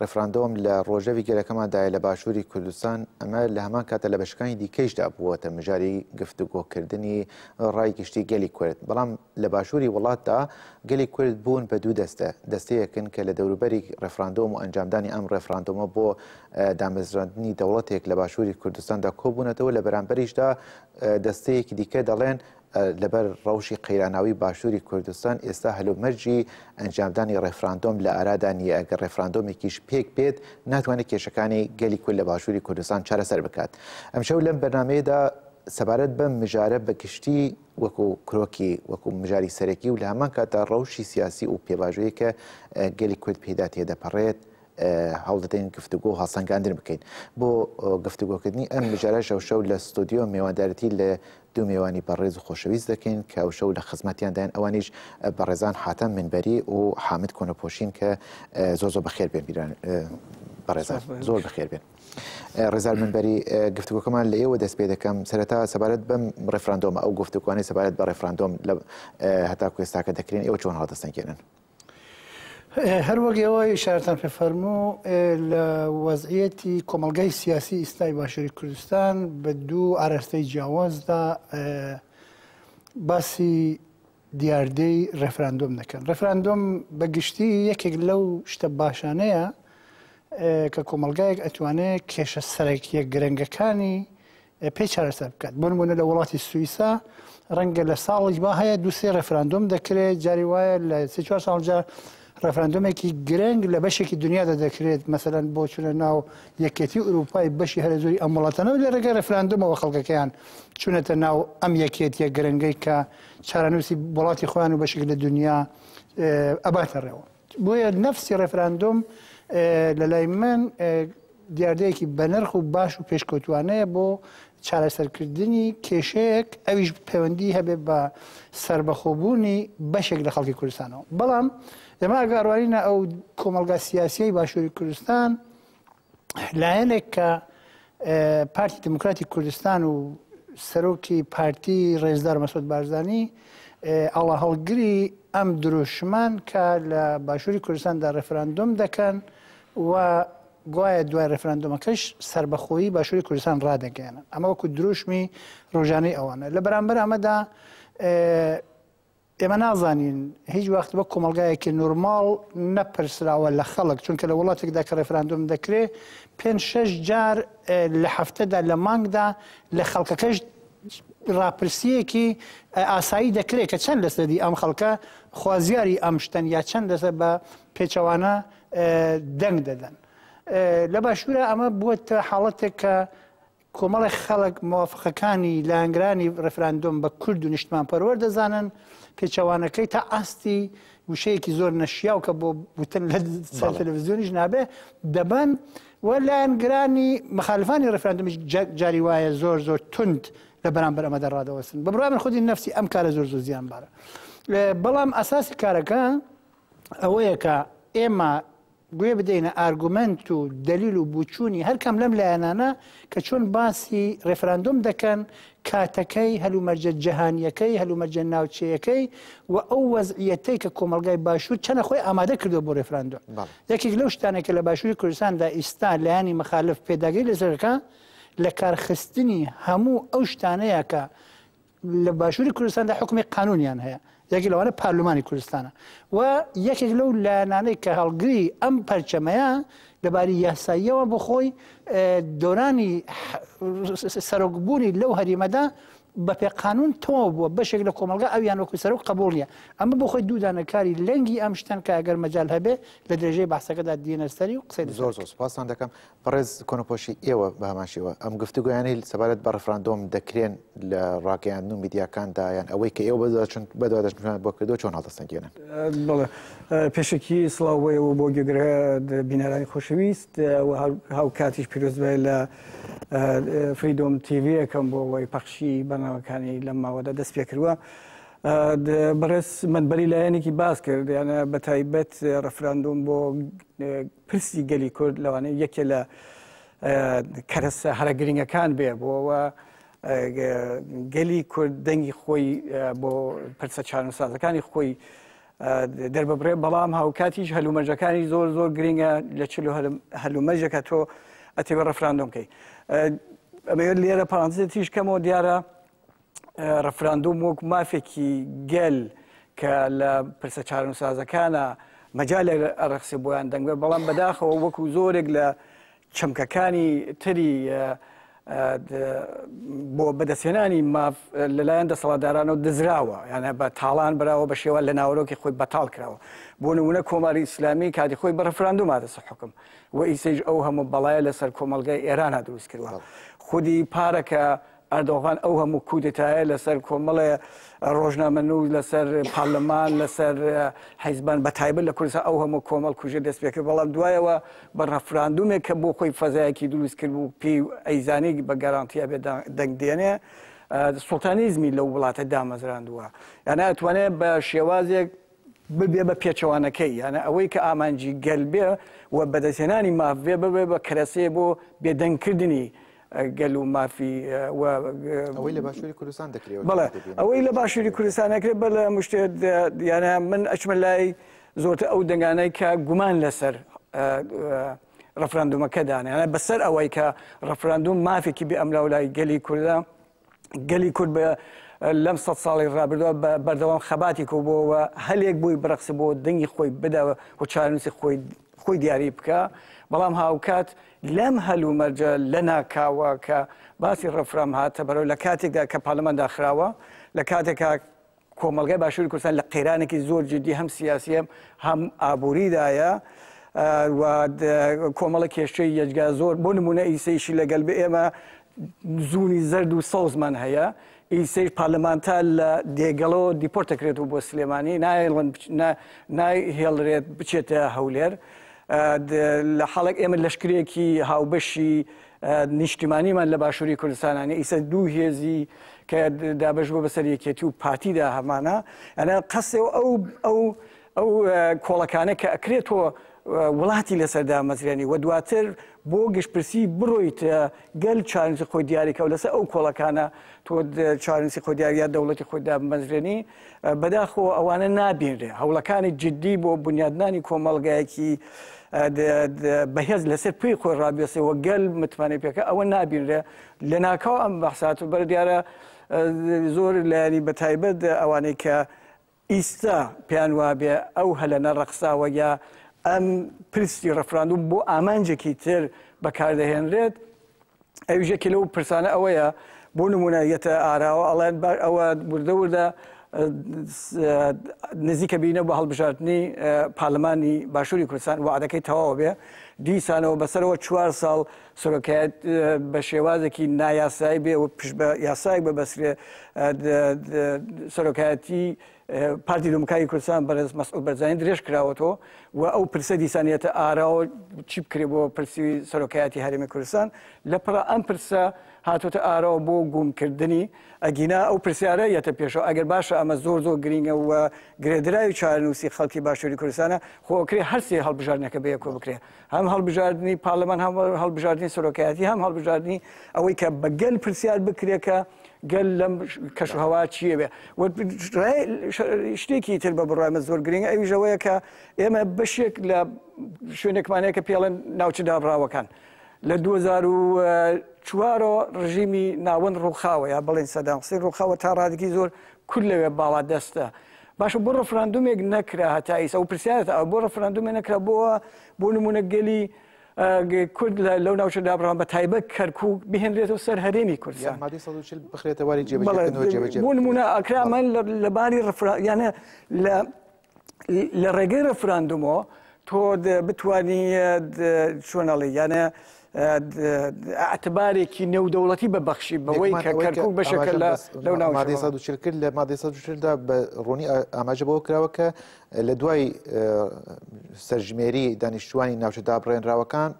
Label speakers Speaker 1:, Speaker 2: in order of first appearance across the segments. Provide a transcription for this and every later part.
Speaker 1: ڕیفراندۆم لە ڕۆژەڤی گەلەکەمان دایە لە باشووری کوردستان، ئەمە لە هەمان کاتە لە بەشەکانی دیکەیشدا بووەتە مژاری گفتوگۆکردنی ڕای گشتی گەلی کورد، بەڵام لە باشووری وڵاتدا گەلی کورد بوون بە دوو دەستە، دەستەیەکن کە لە دەوروبەری ڕیفراندۆم و ئەنجامدانی ئەم ڕیفراندۆمە بۆ دامەزراندنی دەوڵەتێک لە باشووری کوردستاندا کۆبوونەتەوە، لە بەرامبەریشدا دەستەیەکی دیکە دەڵێن لەبەر ڕەوشی قەیراناوی باشووری کوردستان ئێستا هەلومەرجی ئەنجامدانی ڕێفراندۆم لە ئارادا نییە، ئەگەر ڕێفراندۆمێکیش پێک بێت ناتوانێت کێشەکانی گەلی کورد لە باشووری کوردستان چارەسەر بکات. ئەمشەو لەم بەرنامەیەدا سەبارەت بەم مژارە بە گشتی وەکو کرۆکی وەکو مژاری سەرەکی و لە هەمان کاتدا ڕەوشی سیاسی و پێڤاژۆیی کە گەلی کورد پێیدا تێدەپەڕێت هەوڵ دەدەین گفتوگۆ و هەڵسەنگاندن بکەین. بۆ گفتوگۆکردنی ئەم مژارەش ئەمشەو لە ستۆدیۆ مێواندارێتی لە دوو مێوانی بەڕێز و خۆشەویست دەکەین کە ئەوشەو لە خزمەتیانداین ئەوانیش بەڕێزان حاتەم منبەری و حامد کۆنەپۆشین کە زۆر زۆر بەخێر بێن بیران بەڕێزان زۆر بەخێر بێن. ڕێزار منبەری گفتوگۆکەمان لە ئێوە دەست پێ دەکەم سەرەتا سەبارەت بەم ڕێفراندۆمە ئەو گفتوگوانی سەبارەت بە ڕێفراندۆم لە هەتا کوێستاکە دەکرێن ئێوە چۆن هەڵدەستەنگێنن.
Speaker 2: هەر وەک ئێوە ئیشارەتان پێ فەرموو لە وەزعیەتی کۆمەلگای سیاسی ئیستای باشووری کوردستان بە دوو ئاراستەی جیاوازدا باسی دیاردەی ڕێفراندۆم دەکەن ڕێفراندۆم بە گشتی یەکێک لەو شتە باشانەیە کە کۆمەلگایەک ئەتوانێت کێشە سەرەکیە گرنگەکانی پێی چارەسەر بکات بۆ نمونە لە وڵاتی سوئیسا ڕەنگە لە ساڵیش با هەیە دووسێ ڕێفراندۆم دەکرێت جاری وایە لە سێ چوار ساڵجا ڕێفراندۆمێکی گرنگ لە بەشێکی دنیادا دەکرێت مەسەلەن بۆ چونە ناو یەکێتی و ئوروپای بەشی هەرە زۆری ئەم وڵاتانەوە لە ڕێگەی ڕێفراندۆمەوە خەڵکەکەیان چونەتە ناو ئەم یەکێتیە گرنگەی کە چارەنووسی وڵاتی خۆیان و بەشێک لە دنیا ئەباتە ڕێەوە بۆیە نەفسی ڕێفراندۆم لە لای من دیاردەیەکی بەنرخ و باش و پێشکەوتوانەیە بۆ چارەسەرکردنی کێشەیەک ئەویش پەیوەندی هەبێ بە سربەخۆبوونی بەشێک لە خەڵکی کوردستانەوە بەڵام ئێمە ئەگەڕوانینە ئەو کۆمەلگا سیاسیی باشووری کوردستان لایەنێک کە پارتی دیموکراتی کوردستان و سەرۆکی پارتی ڕێزدار مەسود بارزانانی ئاڵا هەڵگری ئەم درۆشمان کە لە باشووری کوردستاندا ڕێفراندۆم دەکەن و گوایە دوای ڕێفراندۆمەکەش سربەخۆیی باشووری کوردستان ڕدەگەێنن ئەمە وەکو درۆشمی ڕۆژانەی ئەوانە لە بەرامبەر ئەمەدا ئێمە نازانین، هیچ وەخت وەک کۆمەڵگایەکی نورماڵ نەپرسراوە لە خەڵک، چونکە لە وڵاتێکدا کە ڕێفراندۆم دەکرێ پێنج شەش جار لە هەفتەدا لە مانگدا لە خەڵکەکەش ڕاپرسییەکی ئاسایی دەکرێ کە چەند لەسەدی ئەم خەڵکە خوازیاری ئەم شتەن یا چەند لەسەر بە پێچەوانە دەنگ دەدەن. لە باشوورا ئەمە بووەتە حاڵەتێک کە کۆمەڵێک خەڵک موافقەکانی لایەنگرانی ڕفراندۆم بە کورد و نیشتمان پەروەەر دەزانن پێچەوانەکەی تا ئاستی وشەیەکی زۆر نەشیاو کە بۆ وتن لە تەلەڤزیۆنیش نابێ دەبەن و لایەنگرانی مخالفانی ڕفراندمیش جاری وایە زۆر زۆر تند لە بەرامبەر ئەمە دەڕادەوەسن بە بڕامن خودی نفسی ئەم کارە زۆر زۆر زیان بارە بەڵام ئەساسی کارەکە ئەوەیە کە ئێمە گوێ بدەینە ئارگومەنت و دەلیل و بوچوونی هەر کام لەم لایەنانە کە چۆن باسی ڕێفراندۆم دەکەن، کاتەکەی، هەلومەرجە جەهانییەکەی، هەلومەرجە ناوچەیەکەی و ئەو وەزعییەتەی کە کۆمەڵگای باشوور چەنە خۆی ئامادە کردووە بۆ ڕێفراندۆم. یەکێک لەو شتانەی کە لە باشووری کوردستاندا ئیستا لایەنی مخالف پێداگری لەسەر دەکا لە کارخستنی هەموو ئەو شتانەیە کە لە باشووری کوردستاندا حکومی قانونیان هەیە یەکی لەوانە پارلمانی کوردستانە و یەکێک لەو لایەنانەی کە هەڵگری ئەم پەرچەمەیە لەباری یاساییەوە بۆ خۆی دۆرانی سەرۆکبوونی لەو هەریمەدا بە پێ قانون تەواو بووە بەشێک لە کۆمەلگا ئەویان وەکو سەرۆک قبولیە ئەمە بۆ خۆی دوودانەکاری لەنگی ئەم شتەن کە ئەگەر مەجال هەبێ لە درێژەی باسەکەدا دینەسەری و قسەی زۆر زۆر سپاسان دەکەم
Speaker 1: بەڕێز کۆنەپۆشی ئێوە بە هەمان شێوە ئەم گفتوگۆیانەی سەبارەت بە ڕفراندۆم دەکرێن لە ڕاگەیاندن و میدیاکاندا یان ئەوەی کە ئێوە بەدواداچوون بەدواداچوونتان بۆ کردووە چۆن هەڵدەسەنگێنن؟ بەڵێ
Speaker 3: پێشەکی سڵاو بۆ ئێوە و بۆ گوێگرە بینەرانی خۆشەویست و هاوکاتیش پیرۆزبای لە فریدۆم تیڤیەکەم بۆ ئەوەی پەخشی بەناوەکانی لەم ماوەدا دەست پێ کردووە. بەڕێز منبەری لایەنێکی باس کرد یانە بە تایبەت ڕفراندۆم بۆ پرسی گەلی کورد لەوانەیە یەکێ لە کەرەسە هەرە گرنگەکان بێ بۆەوە گەلی کورد دەنگی خۆی بۆ پرسە چارەسازەکانی خۆی دەرببڕێ بەڵام هاوکاتیش هەلومەرجەکانی زۆر زۆر گرنگە لە چ هەلومەرجەکە تۆ ئەتێوە ڕفراندۆم بکەیت ئەمەوێت لێرە پارانزێتیش کەمەوە دیارە ڕفراندۆم وەک مافێکی گەل کە لە پرسە چارەنووسازەکانە مەجال ئەڕخسێ بۆیان دەنگبێ بەڵام بەداخەوە وەکو زۆرێک لە چەمکەکانی تری بۆ بەدەستێنانی ماف لەلایەن دەسەڵاتدارانەوە دزراوە یانە بە تاڵان براوە بە شێوە لە ناوەرۆکی خۆی بەتاڵ کراوە بۆ نمونە کۆماری ئیسلامی کاتی خۆی بە ڕفراندوم هاتەسە حکم و ئیسەیش ئەو هەموو بەڵایە لەسەر کۆمەلگای ئێرانە دروست کردوە خودی پارەکە ئەردۆغان ئەو هەموو کودتایە لەسەر کۆمەڵێ ڕۆژنامەنووس، لەسەر پارلمان، لەسەر حیزبان، بەتایبەت لە کوردستان ئەو هەموو کۆمەڵکوژیە دەست پێکرد، بەڵام دوایەوە بە ڕەفراندومێک کە بۆ خۆی فەزایەکی دروست کرد و پێی ئەیزانی بە گەرانتی ئەبێ دەنگ دێنێ، سوڵتانیزمی لەو وڵاتە دامەزراندووە. یانە ئەتوانێ بە شێوازێک. ببێ بە پێچەوانەکەی، یانە ئەوەی کە ئامانجی گەل بێ و بەدەستهێنانی ماف بێ، ببێ بە کەرەسەیە بۆ بێدەنگکردنی گەل و مافی و. ئەوەی
Speaker 1: لە باشووری کوردستان دەکرێ و دەبێ بێ. بەڵێ، ئەوەی لە
Speaker 3: باشووری کوردستان دەکرێ، بە لە هەموو شتێ یانە من ئەچمە لای زۆرتر ئەو دەنگانەی کە گومان لە سەر ڕفراندومەکە دانێ، یانە بە سەر ئەوەی کە ڕفراندوم مافێکی بێ ئەملاولای گەلی کوردە، گەلی کورد بە لەم سەد ساڵی ڕابردووە بە بەردەوام خەباتی کۆ بۆ و هەلێک بۆی بڕەخسە بۆ دەنگی خۆی بدا و چارەنووسی خۆی خۆی دیاری بکە بەڵام هاوکات لەم هەل و مەرجە لە ناکاوە کە باسی ڕفرام هاتە بەرەوە لە کاتێکدا کە پارلەمان داخراوە لە کاتێکا کۆمەڵگای باشووری کوردستان لە قەیرانێکی زۆر جدی هەم سیاسیە هەم ئابووریدایە و کۆمەڵە کێشەی یەجگا زۆر بۆ نمونە ئیسەیشی لەگەل بە ئێمە زوونی زرد و سەوزمان هەیە ئیسەیش پارلەمانتا لە دێگەڵەوە دیپۆرتەکرێت و بۆ سلێمانی نایهێڵرێت بچێتە هەولێر لە حاڵک ئێمە لەشکرێکی هاوبەشی نیشتیمانیمان لە باشووری کوردستانە نە ئیسە دوو هێزی کە دابش بۆ بەسەر یەکێتی و پارتیدا هەمانە ئەە قەسێ و ئەو ئەو ئەو کۆڵەکانە کە ئەکرێتەوە وڵاتی لەسەر دامەزرێنی و دواتر بۆ گشتپرسی بڕۆیت گەل چارنسی خۆی دیاریکە و لەسەر ئەو کۆڵەکانە تۆ چارنسی خۆ دیاریا دەوڵەتی خۆی دامەزرێنی بەداخەوە ئەوانە نابینرێ هەوڵەکانی جددی بۆ بنیادنانی کۆمەڵگایەکی بەهێز لەسەر پێی خۆی ڕابێسەوە گەل متمانەی پێکە ئەوە نابینرێ لە ناکاو ئەم بەحسات و بەر دیارە زۆر لایانی بە تایبەت ئەوانەی کە ئیستا پێیان وابێ ئەو هەلەنە ڕەخساوە یا ئەم پرسی ڕفراندوم بۆ ئامانجێکی تر بەکاردەهێنرێت ئەویش یەکێ لەو پرسانە ئەوەیە بۆ نمونە یەتە ئاراوە ئەڵێن باش ئەوە وردە وردە نزیکە بینە بە هەڵبژاردننی پارلمانی باشووری کوردستان وعدەکەی تەواوە بێ دیسانەوە بەسەرەوە چوار ساڵ سەرۆکایەت بە شێوازێکی نایاسایی بێ و پشت بە یاسایەک بە بەسرێ سەرۆکایەتی پارتی دموکراتی کوردستان بەرێز مەسعود بەرزانی درێژ کراوەتەوە و ئەو پرسە دیسانیەتە ئاراوە چی بکرێ بۆ پرسی سەرۆکایەتی هەرێمی کوردستان لە پڕ ئەم پرسە هاتوتە ئاراوە بۆ گوومکردنی ئەگینا ئەو پرسیارە یەتە پێشەوە ئەگەر باشە ئەمە زۆر زۆر گرنگە و گرێدراوی چارەنووسی خەڵکی باشووری کوردستانە خۆکرێ هەرسێ هەڵبژاردنەکە بەیەکۆ بکرێ هەم هەڵبژاردنی پارلەمان هەم هەڵبژاردنی سەرۆکایەتی هەم هەڵبژاردنی ئەوەی کە بە گەل پرسیار بکرێت کە گەل لەم کەشهوا چیە بێ شتێکی تر بە بڕای من زۆر گرنگ ئەویژەوەیە کە ئێمە بەشێک لە شوێنێکمانەیە کە پێڵێن ناوچە دابراوەکان لە 2004ەوە ڕژیمی ناوەند ڕووخاوە یا بڵێن سەداسی ڕووخاوە تا ڕادگی زۆر کول لەوێ باڵا دەستە باشە بۆ ڕفراندومێک نەکرا هەتا ئیس ئەو پرسیارت ئەو بۆ ڕفراندومێ نەکرا بۆ بۆ نمونە گەلی کورد لەو ناوچە دابڕان بە تایبەت کەرکک بهێنرێتەوە سەر هەرێمی کوردستان بخرێتەواری
Speaker 1: بۆ نمونە ئەکرامەن
Speaker 3: لە باری ڕفراانە لە ڕێگەی ڕفراندومەوە تۆ بتانی چۆنەڵی یانە ئەعتبارێکی نێودەوڵەتی بە بەخشی بەوەی کە کەرکک بەشەکە لە لەو
Speaker 1: ناوادی ساچل کرد لە مادەی سادا بە ڕوونی ئاماژە بەوە
Speaker 3: کراوە
Speaker 1: کە لە دوای سەرژمێری دانیشتوانی ناوچە دابڕێنراوەکان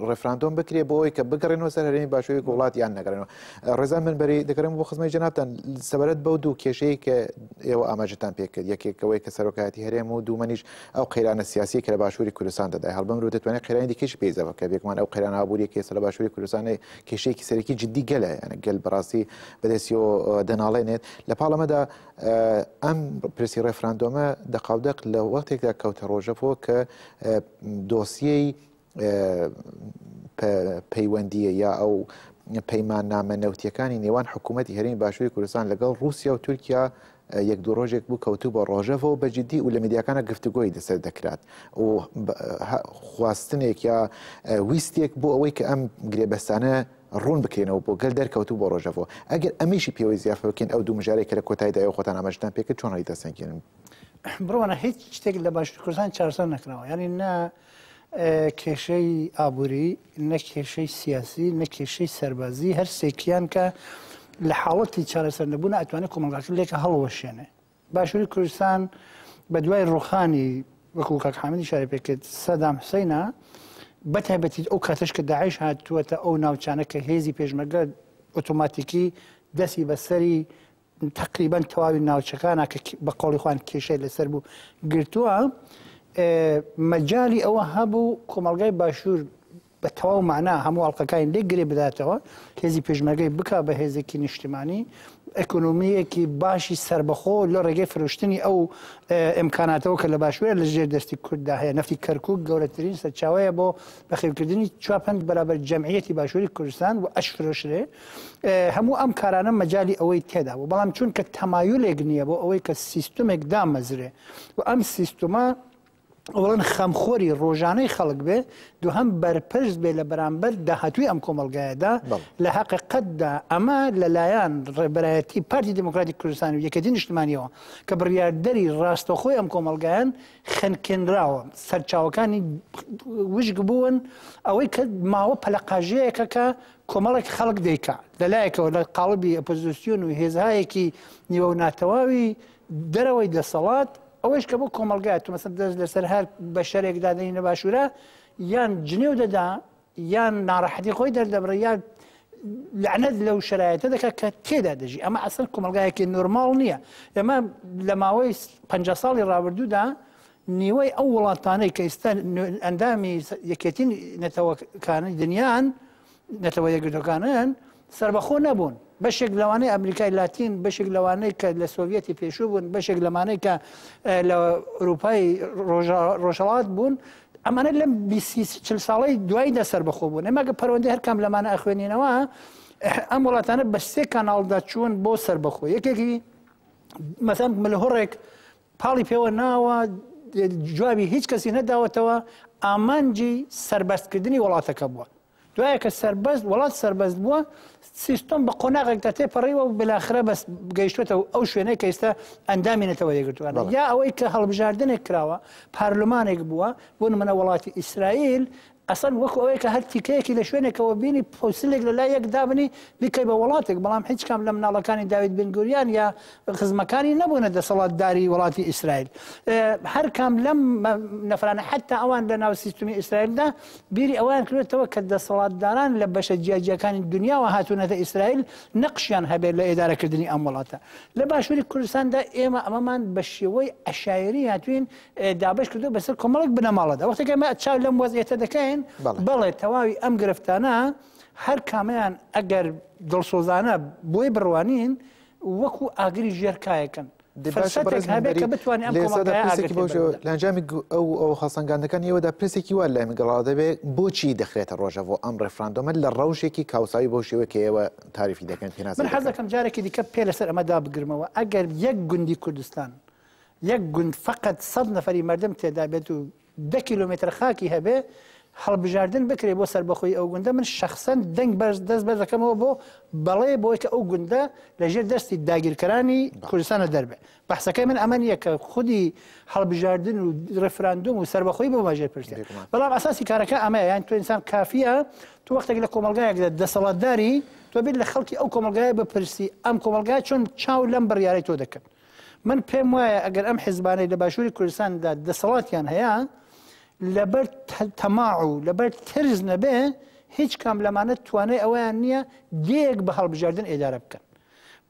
Speaker 1: ڕفراندۆم بکرێ بۆ ئەوی کە بگەڕێنەوە سەر هەرێمی باشووی وڵات یان نەگەڕێنەوە ڕێزا من بەری دەگەرم بۆ خزمەی جناتان سەبارەت بەو دوو کێشەیە کە ئێوە ئاماژتان پێکرد یەکێکەوەی کە سەرۆکایەتی هەرێم و دوومەنیش ئەو قەیرانە سیاسیەی کە لە باشوری کوردستان دەدای هەڵبەم رو دەتوانێت قەیرانی دیکەشی پێی زەبە بکە بێگومان ئەو قەیرانە ئابوریە کە ئێستا لە باشوری کوردستانی کێشەیەکی سەرەکی جدی گەلە یانە گەل بەڕاستی بەدەستیەوە دەناڵێنێت لە پاڵەمەدا ئەم پرسی ڕێفراندۆمە دەقاودەق لە وەختێکدا کەوتە ڕۆژەڤەوە کە دۆسیەی پەیوەندییە یا ئەو پەیماننامە نەوتییەکانی نێوان حکوومەتی هەرێمی باشووری کوردستان لەگەڵ ڕووسیا و تورکیا یەک دوو ڕۆژێک بوو کەوتو بە ڕۆژەڤەوە بە جددی و لە میدیاکانە گفتوگۆی لەسەر دەکرات و خواستنێک یا ویستێک بۆ ئەوەی کە ئەم گرێبەستانە ڕوون بکرێنەوە بۆ گەل دەرکەوتو بۆ ڕۆژەڤەوە ئەگەر ئەمیشی پێوەی زیافە بکەین ئەو دوو مژارێک کە لە کۆتایدا ئەو خۆتان ئاماژتان پێکرد چۆن هەڵی دەسەنگێنن بڕوانە
Speaker 2: هیچ شتێک لە باشوور کوردستان چارەسەر نەکراوە یعنی نە کێشەی ئابووری، نە کێشەی سیاسی، نە کێشەی سەربازی، هەر سێکیان کە لە حاڵەتی چارەسەر نەبوونا ئەتوانێ کۆمەڵگاکە لێک هەڵوەشێنێ. باشووری کوردستان بە دوای ڕووخانی وەکوو کاک حامیدیش شارە پێ کرد سەدام حوسەینا، بە تایبەتی ئەو کاتەش کە داعش هاتووەتە ئەو ناوچانە کە هێزی پێشمەرگە ئۆتۆماتیکی دەستی بە سەری تەقریبەن تەواوی ناوچەکانە کە بە قۆڵی خوان کێشەی لەسەر بوو گرتووە مەجای ئەوە هەبوو کۆمەلگای باشوور بە تەواو معنا هەموو ئەڵلقەکانی لێ گرێ بداتەوە هێزی پێشمەگەی بک بە هێزێکی نیشتیمانی ئەکنۆمیەکی باشی سربەخۆ لە ڕێگەی فرۆشتنی ئەو ئەمکاناتەوە کە لە باشوێ لە ژێر دەستی کورددا هەیە نفتی کەرکک گەورەترین سەرچاوەیە بۆ بەخێوکردنی چپند بەرابەر جەمعەتی باشووری کوردستان و ئەش فرۆشرێ هەموو ئەم کارانە مەجالی ئەوەی تێدا بوو بەڵام چونکە تەمایلێک نییە بۆ ئەوەی کە سیستمێک دامەزرێ و ئەم سیستمە ئەوڵەن خەمخۆری ڕۆژانەی خەڵک بێ دو هەم بەرپرس بێ لە بەرامبەر داهاتوی ئەم کۆمەلگایەدا لە حقیقەتدا ئەمە لەلایەن ڕێبەرایەتی پارتی دموکراتی کوردستان و یەکەتی نیشتمانیەوە کە بڕیاردەری ڕاستەخۆی ئەم کۆمەلگایان خنکێنراوە سەرچاوەکانی وشک بوون ئەوەی کە ماوە پەلقاژەیەکە کە کۆمەڵێک خەڵک دەیکا لەلایەکەوە لە قاڵبی ئۆپۆزیسیۆن و هێزهایەکی نیوە و ناتەواوی دەرەوەی دەسەڵات، ئەوەیش کە بۆ کۆمەڵگای تۆ مەسەن دەست لەسەر هەر بەشەرێک دادەنی لە باشوورا یان جنێو دەدا یان ناڕەحەتی خۆی دەردەبڕی یان لەعنەت لەو شرایەتە دەکات کە تێدا دەژی ئەمە ئەسەر کۆمەلگایەکی نۆرماڵ نییە ئێمە لە ماوەی پ ساڵی ڕابردوودا نیوەی ئەو وڵاتانەی کە ئیستا ئەندامی یەکێتی نەتەوەکانی دنیان نەتەوە یەکگرتوەکانن سربەخۆ نەبوون بەشێک لەوانەی ئەمریکای لاتین بەشێک لەوانەی کە لە سۆڤەتی پێشوو بوون بەشێک لەمانەی کە لە ئەوروپای ڕۆژەڵات بوون ئەمانە لەم چل ساڵی دوای دە سربەخۆ بوون ئەماگە پەروەندی هەرکام لەمانە ئەخوێنینەوە ئەم وڵاتانە بە سێ کاناڵدا چوون بۆ سربەخۆ یەکێکی مەسەم ملهڕێک پاڵی پێوە ناوە، جوابی هیچ کەسی نەداوەتەوە، ئامانجی سەربەرز کردنی وڵاتەکە بووە. دوایە کە سەربەست وڵات سەربەست بووە سیستم بە قۆناغێکدا تێپەڕیوە و بلاخرە بەس گەیشتێتە و ئەو شوێنەی کە ئێستا ئەندامی نەتەوە یەکگرتووانە یا ئەوەی کە هەڵبژاردنێک کراوە پارلمانێک بووە بۆ نمونە وڵاتی ئیسرائیل ئەسڵەن وەکو ئەوەیە کە هەر تیکەیەکی لە شوێنێکەوە بینی پوسلێک لە لای یەک دابنی بیکەی بە وڵاتێک، بەڵام هیچ کام لە مناڵەکانی داوید بن گوریان یا خزمەکانی نەبوونە دەسەڵاتداری وڵاتی ئیسرائیل. هەر کام لەم نەفرانە حەتتا ئەوان لە ناو سیستمی ئیسرائیلدا بیری ئەوەیان کردۆتەوە کە دەسەڵاتداران لە بەشە جیاجیاکانی دنیاوە هاتوونەتە ئیسرائیل نەقشیان هەبێت لە ئێدارەکردنی ئەم وڵاتە. لە باشووری کوردستاندا ئێمە ئەمەمان بە شێوەی عەشایەری هاتووین دابەش کردووە بەسەر کۆمەڵێک بنەماڵەدا وەختێک ئێمە چاو لەم وەزعیەتە دەکەین بەڵێ تەواوی ئەم گرفتانە هەر کامیان ئەگەر دڵسۆزانە بۆی بڕوانین وەکو ئاگری ژێر کایەکەن
Speaker 1: لەنجامی ئەو ئەو خەسەنگاندەکان ئێوەدا پرسێکی وا لای گەڵا دەبێت بۆچی دەخرێتە ڕۆژە بۆ ئەم ڕێفراندۆمە لە ڕەوشێکی کاوساوی بۆ شێوە کە ئێوە تاریفی دەکەن پێ من حەزەکەم جارێکی دیکە
Speaker 2: پێ لەسەر ئەمەدا بگرمەوە ئەگەر یەک گوندی کوردستان یەک گوند فەقەت سەد نەفەری مەردم تێدا بێت و دە کیلۆمێتر خاکی هەبێ هەڵبژاردن بکرێ بۆ سەربەخۆی ئەو گوندە من شخصەن دەنگ بەرز دەست بەر دەکەمەوە بۆ بەڵێ بۆی کە ئەو گوندە لە ژێر دەستی داگیرکەرانی کوردستانە دەربێ بەحسەکەی من ئەمە نیە کە خودی هەڵبژاردن و ڕفراندوم و سەربەخۆی بۆ ماژێر پرسێ بەڵام ئەساسی کارەکە ئەمە یان تو ئینسان کافیە تو وەختێک لە کۆمەلگایەک دەسەڵاتداری تۆ بێت لە خەڵکی ئەو کۆمەلگای بپرسی ئەم کۆمەلگای چۆن چاو لەم بڕیارەی تۆ دەکرد من پێم وایە ئەگەر ئەم حزبانەی لە باشووری کوردستاندا دەسەڵاتیان هەیە لەبەر تەماع و لەبەر ترس نەبێ هیچ کام لەمانە توانای ئەویان نییە دێک بە هەڵبژاردن ئێدارە بکەن.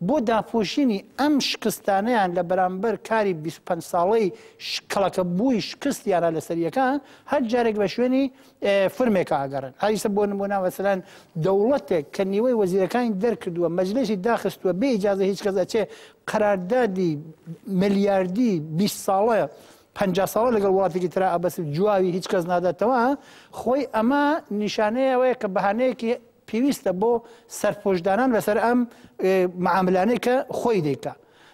Speaker 2: بۆ داپۆشینی ئەم شکستانیان لە بەرامبەر کاری 25 ساڵەی شکڵەکە بووی شکستیانە لە سەریەکە هەر جارێک بە شوێنی فرمێکە ئاگەڕێن ئایسە بۆ نمونا وەسەلان دەوڵەتێک کە نیوەی وەزیرەکانی دەرکردووە مەجلسی داخستووە بێ ئیجازە هیچ کەس ئەچێ قەراردادی ملیاردی 20 ساڵە پ ساڵە لەگەڵ وڵاتێکی تررا ئەبەس جوواوی هیچ کەس ناداتەوە خۆی ئەمە نیشانەیەوەیە کە بەهانەیەکی پێویستە بۆ سەرپۆشدانان لەسەر ئەم معاملانەی کە خۆی دەیکە.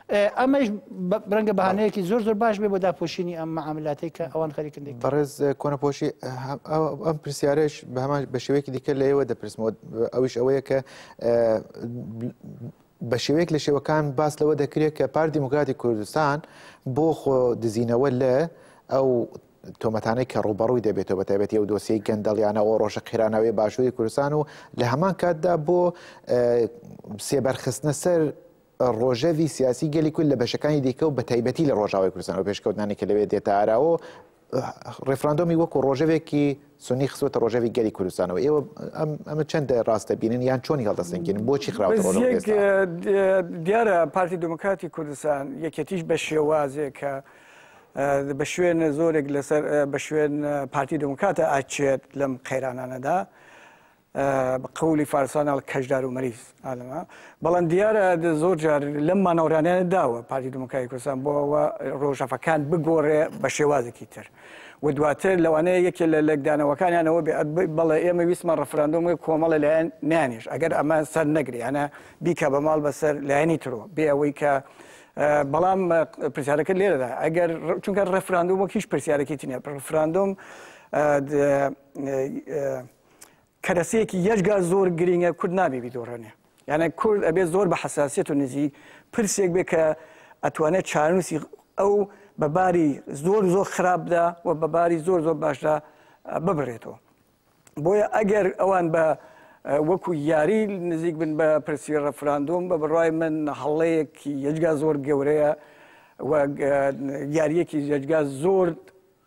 Speaker 2: ئەمەیش رەنگە بەهانەیەکی زۆر زۆر باش بێ بۆ داپۆشینی ئەم معاملاتەی کە ئەوان خەریکن دێک بەڕێز
Speaker 1: کۆنەپۆشی ئەم پرسیارش بە هەمان بە شێوەیەکی دیکە لە ئێوە دەپرسمەوە ئەویش ئەوەیە کە بە شێوەیەک لە شێوەکان باس لەوە دەکرێت کە پار دیموکراتی کوردستان بۆ خۆ دزینەوە لە ئەو تۆمەتانەی کە ڕوبەڕووی دەبێتەوە بەتابەتی ئەو دۆسیی گەندەڵیانە ئەو ڕۆژە قێرانەوەی باشووری کوردستان و لە هەمان کاتدا بۆ سێبەرخستنە سەر ڕۆژەڤی سیاسی گەلی کورد لە بەشەکانی دیکە و بەتایبەتی لە ڕۆژاوای کوردستان و پێشکەوتنانی کە لەوێ دێتە ئاراوە و ڕێفراندۆمی وەکو ڕۆژەڤێکی سونی خستوەتە ڕۆژەڤی گەلی کوردستانەوە ئێوە ئەمە چەندە ڕاستە بینن یان چۆنی هەڵدەستنگیرن بۆچی خراوەتەوە
Speaker 3: دیارە پارتی دموکراتی کوردستان یەکێتیش بە شێوازێک کە بە شوێن زۆرێک لەسەر بە شوێن پارتی دموکاتە ئاچێت لەم قەیرانانەدا بە قەولی فارسان ئەڵ کەژدار و مەریز ئالەما بەڵام دیارە زۆر جار لەم مانەوەرانیانە داوە پارتی دموکراتی کوردستان بۆ ئەوە ڕۆژەفەکان بگۆڕێ بە شێوازێکی تر و دواتر لەوانەیە یەکێ لە لەکدانەوەکانیانەوە بێ بەڵێ ئێمە ویسمان ڕفراندۆم کۆمەڵە لایەن نیانیش ئەگەر ئەمە سەر نەگریانە بیکە بە ماڵ بەسەر لایەنی ترۆ بێ ئەوەی کە بەڵام پرسیارەکە لێرەدا ئەگەر چونکە ڕفراندۆم وەک هیچ پرسیارێکی تینە ڕفراندۆم کەرەسەیەکی یەجگار زۆر گرینگە کورد نابێ بیدۆڕێنێ یانە کورد ئەبێ زۆر بە حساسیت و نزی پرسێک بێ کە ئەتوانێت چارنووسی ئەو بە باری زۆر زۆر خراپدا و بە باری زۆر زۆر باشدا ببرێتەوە بۆیە ئەگەر ئەوان بە وەکو یاری نزیک بن بە پرسی ڕفراندۆم بە بڕای من هەڵەیەکی یەجگا زۆر گەورەیە یاریەکی یەجگا زۆر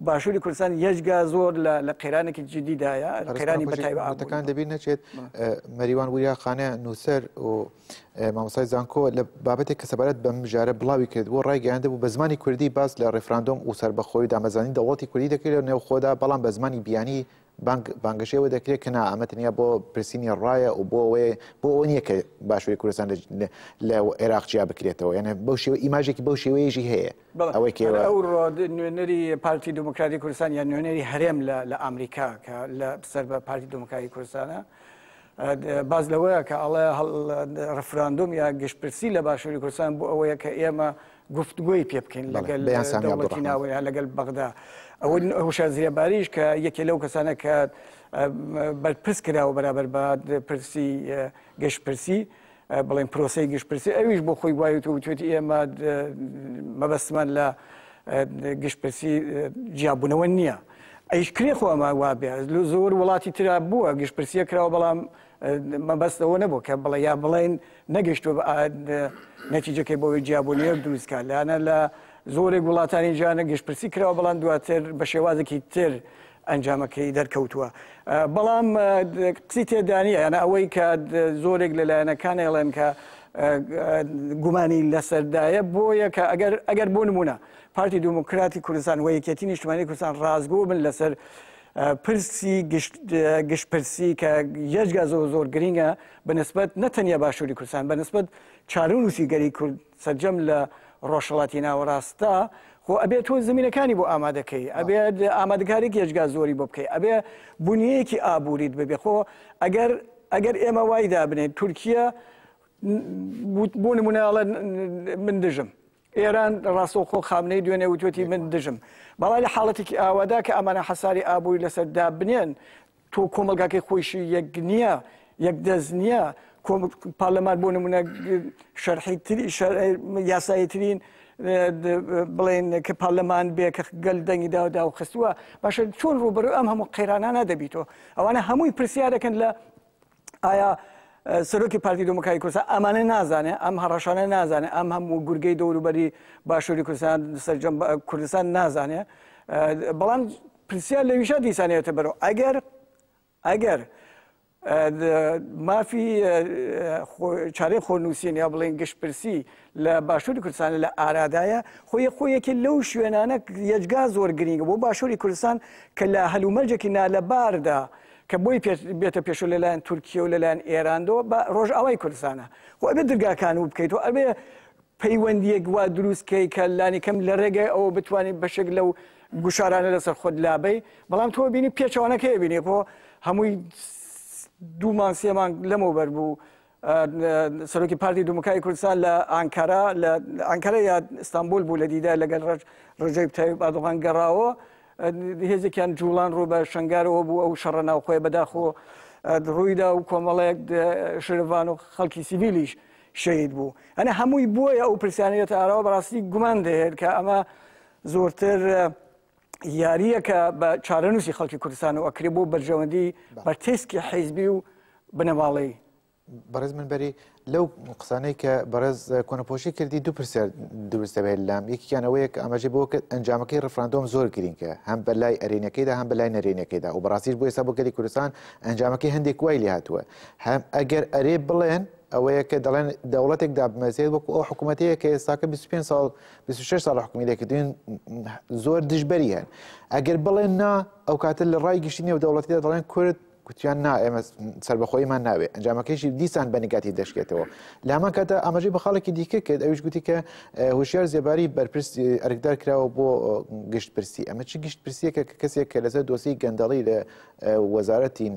Speaker 3: باشوری کوردستان یەجگا زۆر لە قەیرانێکی جدیدایە قەیرانی بەتایبەتەکان دەبی نەچێت
Speaker 1: مەریوان وریا خانە نووسەر و مامۆسای زانکۆ لە بابەتێک کە سەبارەت بە مژارە بڵاوی کرد بۆ ڕایگەیاندە بوو بە زمانی کوردی باس لە ڕێفراندۆم و سەربەخۆی دامەزانی دەوڵەتی کوردی دەکرێت نێوخۆدا بەڵام بە زمانی بیانی بانگ بانگەشەی ئەوە دەکرێت کە نا ئەمە تەنیا بۆ پرسینی ڕایە و بۆ ئەوەیە بۆ ئەوە نییە کە باشووری کوردستان لە- لە- لە عێراق جیا بکرێتەوە یعنی بەو شێوە ئیماژێکی بەو شێوەیەشی هەیە بەڵێ، ئەوەی کە ئێوە- ئەو ڕۆد
Speaker 3: نوێنەری پارتی دیموکراتی کوردستان یا نوێنەری هەرێم لە لە ئامریکا کە لە سەر بە پارتی دیموکراتی کوردستانە ئە، د، باس لەوەیە کە ئەڵێ هەڵ، د، ڕفراندۆم یا گشتپرسی لە باشووری کوردستان بۆ ئەوەیە کە ئێمە گفتگۆی پێ بکەین لەگەل دەوڵەتی ناوەیە لەگەل بەغدا ئەوە هوشار زیێباریش کە یەکێ لەو کەسانە کە بەرپرس کراوە بەرابەر بە پرسی گەشتپرسی بڵێن پرۆسی گشتپرسی ئەویش بۆ خۆی وایوت و توێتی ئێمە مەبەستمان لە گشتپرسی جیاببوونەوە نییە. ئەیش کرێ خۆ ئەمە وابێ زۆر وڵاتی تررا بووە گشتپرسیە کراوە بەڵام مەبەست ئەوە نەبوو کە بڵێ یا بڵێن نەگەشتووە بە نەتیجەکەی بۆی جیابوونیەک دروستکە لەانە لە زۆرێک وڵاتانی جیانە گشتپرسی کراوە بەڵام دواتر بە شێوازێکی تر ئەنجامەکەی دەرکەوتووە بەڵام قسی تێدانە یانە ئەوەی کە زۆرێک لە لایەنەکان ئێڵێن کە گومانی لەسەردایە بۆ یەکە ئەگەر ئەگەر بۆ نمونە پارتی دموکراتی کوردستان و یەکێتی نیشتمانی کوردستان ڕازگۆ بن لەسەر پرسی گشت پرسی کە یەجگا زۆر زۆر گرنگە بەنسبت نەتەنیا باشووری کوردستان بەنسبت چارونووسی گەلی کورد سەرجەم لە ڕۆژهڵاتی ناوەڕاستدا خۆ ئەبێت تۆ زمینەکانی بۆ ئامادەکەی ئەبێت ئامادەکاری یەجگا زۆری بۆ بکەی ئەبێ بنیەکی ئابووریت ببێ خۆ ئەگەر ئەگەر ئێمە وای دابنێت تورکیا بۆ نمونەڵە من دژم ئێران ڕاستەوخۆ خامنەی دوێنێ وتوێتی من دژم بەڵام لە حاڵەتێکی ئاوادا کە ئەمانە حەساری ئابووری لەسەر دابنێن تۆ کۆمەلگاکەی خۆیشی یەک نییە یەک دەست نییە پارلەمان بۆ نمونە شەرحی تری یاسایی ترین بڵێن کە پارلەمان بێ کە گەل دەنگی داودا و خستووە باشە چۆن ڕوبەر ئەم هەموو قەیرانانە دەبیتەوە ئەوانە هەمووی پرسیارەکەن لە ئایا سەرۆکی پارتی دموکراتی کوردستان ئەمانە نازانێ ئەم هەڕەشانە نازانێ ئەم هەموو گورگەی دەوروبەری باشووری کوردستان سەرجەم کوردستان نازانێ بەڵام پرسیار لە ویشا دیسانێتە بەرەوە ئەگەر ئەگەر مافی چارەی خۆنووسین یا بڵێن گشتپرسی لە باشووری کوردستان لە ئارادایە خۆی خۆیەکی لەو شوێنانە یەجگا زۆر گرنگە بۆ باشووری کوردستان کە لە هەلومەرجێکی نالەباردا کە بۆی پێ بێتە پێشو لەلایەن تورکیە و لەلایەن ئێراندەوە بە ڕۆژئاوای کوردستانە خۆ ئەبێ درگاکان و بکەیت و ئەبێ پەیوەندیەک وا دروستکەی کە لانیکەم لە ڕێگەی ئەوە بتوانین بەشێک لەو گوشارانە لەسەر خۆت لابەی بەڵام تۆ بینی پێچەوانەکەی بینێ بۆ هەمووی دوومان سێمان لەمەوبەر بوو سەرۆکی پارتی دیموکراتی کوردستان لە ئانکارا لە ئانکارا یا ئیستانبول بوو لە دیدار لەگەل ڕەج ڕەجەیب تایب ئەردۆغان گەڕاوە هێزێکیان جوڵان ڕوو بە شنگارەوە بوو ئەو شەڕە ناوخۆی بەداخۆ ڕوویدا و کۆمەڵەیەک شرڤان و خەڵکی سیڤیلیش شەید بوو ئەنە هەمووی بووە ئەو پرسیانەت ئاراوە بەڕاستی گومان دەهێت کە ئەمە زۆرتر یارییە کە بە چارەنووسی خەڵکی کوردستانەوە ئەکرێ بۆ بەرژەوەندی بە تێسکی حیزبی و بنەماڵەی بەڕێز
Speaker 1: من بەری لەو قسانەی کە بەڕێز کۆنەپۆشی کردی دوو پرسیار دروست دەبێت لام یەکیان ئەوەیە کە ئاماژە بۆ کرد ئەنجامەکەی ڕفراندۆم زۆر گرینگە هەم بە لای ئەرێنەکەیدا هەم بە لای نەرێنەکەیدا و بەڕاستیش بۆ ئێستا بۆ گەلی کوردستان ئەنجامەکەی هەندێک وای لێ هاتووە هەم ئەگەر ئەرێ بڵێن ئەوەیە کە دەڵێن دەوڵەتێک دابمەزێت وەکو ئەو حکوومەتەیە کە ئێستاکە 25 ساڵ بیست و شەش ساڵە حکومی لێکردوین زۆر دژبەری هەن ئەگەر بڵێن نا ئەو کاتە لە ڕای گشتی نێو دەوڵەتیدا دەڵێن کورد کوتیان نا ئێمە سربەخۆیمان ناوێ ئەنجامەکەیشی دیسان بە نگاتی دەشکێتەوە لامان کاتە ئاماژەی بە خاڵێکی دیکە کرد ئەوش گوتی کە هوشیار زێباری بەرپرس ئەرکدار کراوە بۆ گشت پرسی ئەمە چی گشت پرسیەکە کە کەسێک کە لەسەر دۆسی گەندەڵی لە وەزارەتی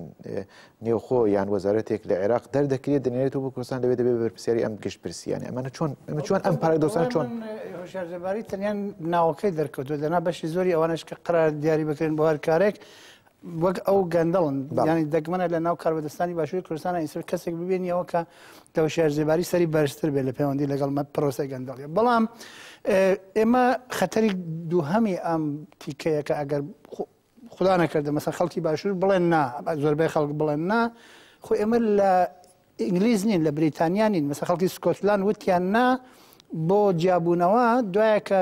Speaker 1: نێوخۆ یان وەزارەتێک لە عێراق دەردەکرێت دەنێرێتەوە بۆ کوردستان لەوێ دەبێت بەرپرسیاری ئەم گشت پرسیانە ئەمانە چۆن ئەمە چۆن ئەم پارادۆسان چۆن هۆشارزەباری
Speaker 2: تەنیان ناوەکەی دەرکەوتو دەنا بەشی زۆری ئەوانش کە قرار دیاری بکرێن بۆ هەر کارێک وەک ئەو گەندەڵن ینی دەگمەنە لە ناو کاربەدەستانی باشووری کوردستان ئیسر کەسێک ببێنیەوە کە دەوشار زێباری سەری بەرزتر بێت لە پەیوەندی لەگەڵ مە پرۆسی گەندەڵی بەڵام ئێمە خەتەری دووهەمی ئەم تیکەیەکە ئەگەر خودا نەکردە مەسە خەڵکی باشوور بڵێن نا زۆربەی خەڵک بڵێن نا خۆ ئێمە لە ئینگلیز نین لە بریتانیا نین مەسە خەڵکی سکۆتلان وتیان نا بۆ جیابوونەوە دوایە کە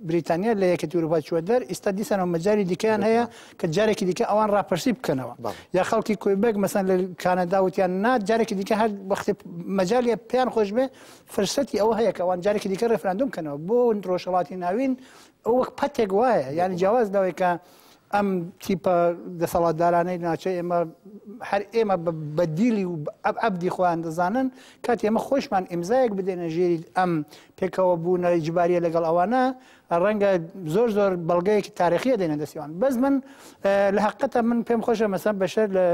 Speaker 2: بریتانیا لە یەکە تورپا چوە دەر ئیستا دیسانەوە مەجاری دیکەیان هەیە کە جارێکی دیکە ئەوان راپرسی بکەنەوە یا خەڵکی کوێبێک مەسەن لە کانەدا وتیان نا جارێکی دیکە هەر وەختی مەجاالیە پێیان خۆش بێ فرسەتی ئەوە هەیە کە ئەوان جارێکی دیکە ڕێفراندوم کەنەوە بۆ ڕۆژهڵاتی ناوین ئەو وەک پەتێک وایە یعنی جیاواز لەوەی کە ئەم تیپە دەسەڵاتدارانەی ناچە ئێمە هەر ئێمە بە دیلی و ئەب ئەبدی خۆیان دەزانن کات ئێمە خۆشمان ئیمزایەک بدێنە ژێری ئەم پێکەوە بوونە جبارە لەگەڵ ئەوانە ڕەنگە زۆر زۆر بەڵگەیەکی تاریخیە دێنە دەستیوان بەس من لە حقەتە من پێم خۆشە مەسەم بەشەر لە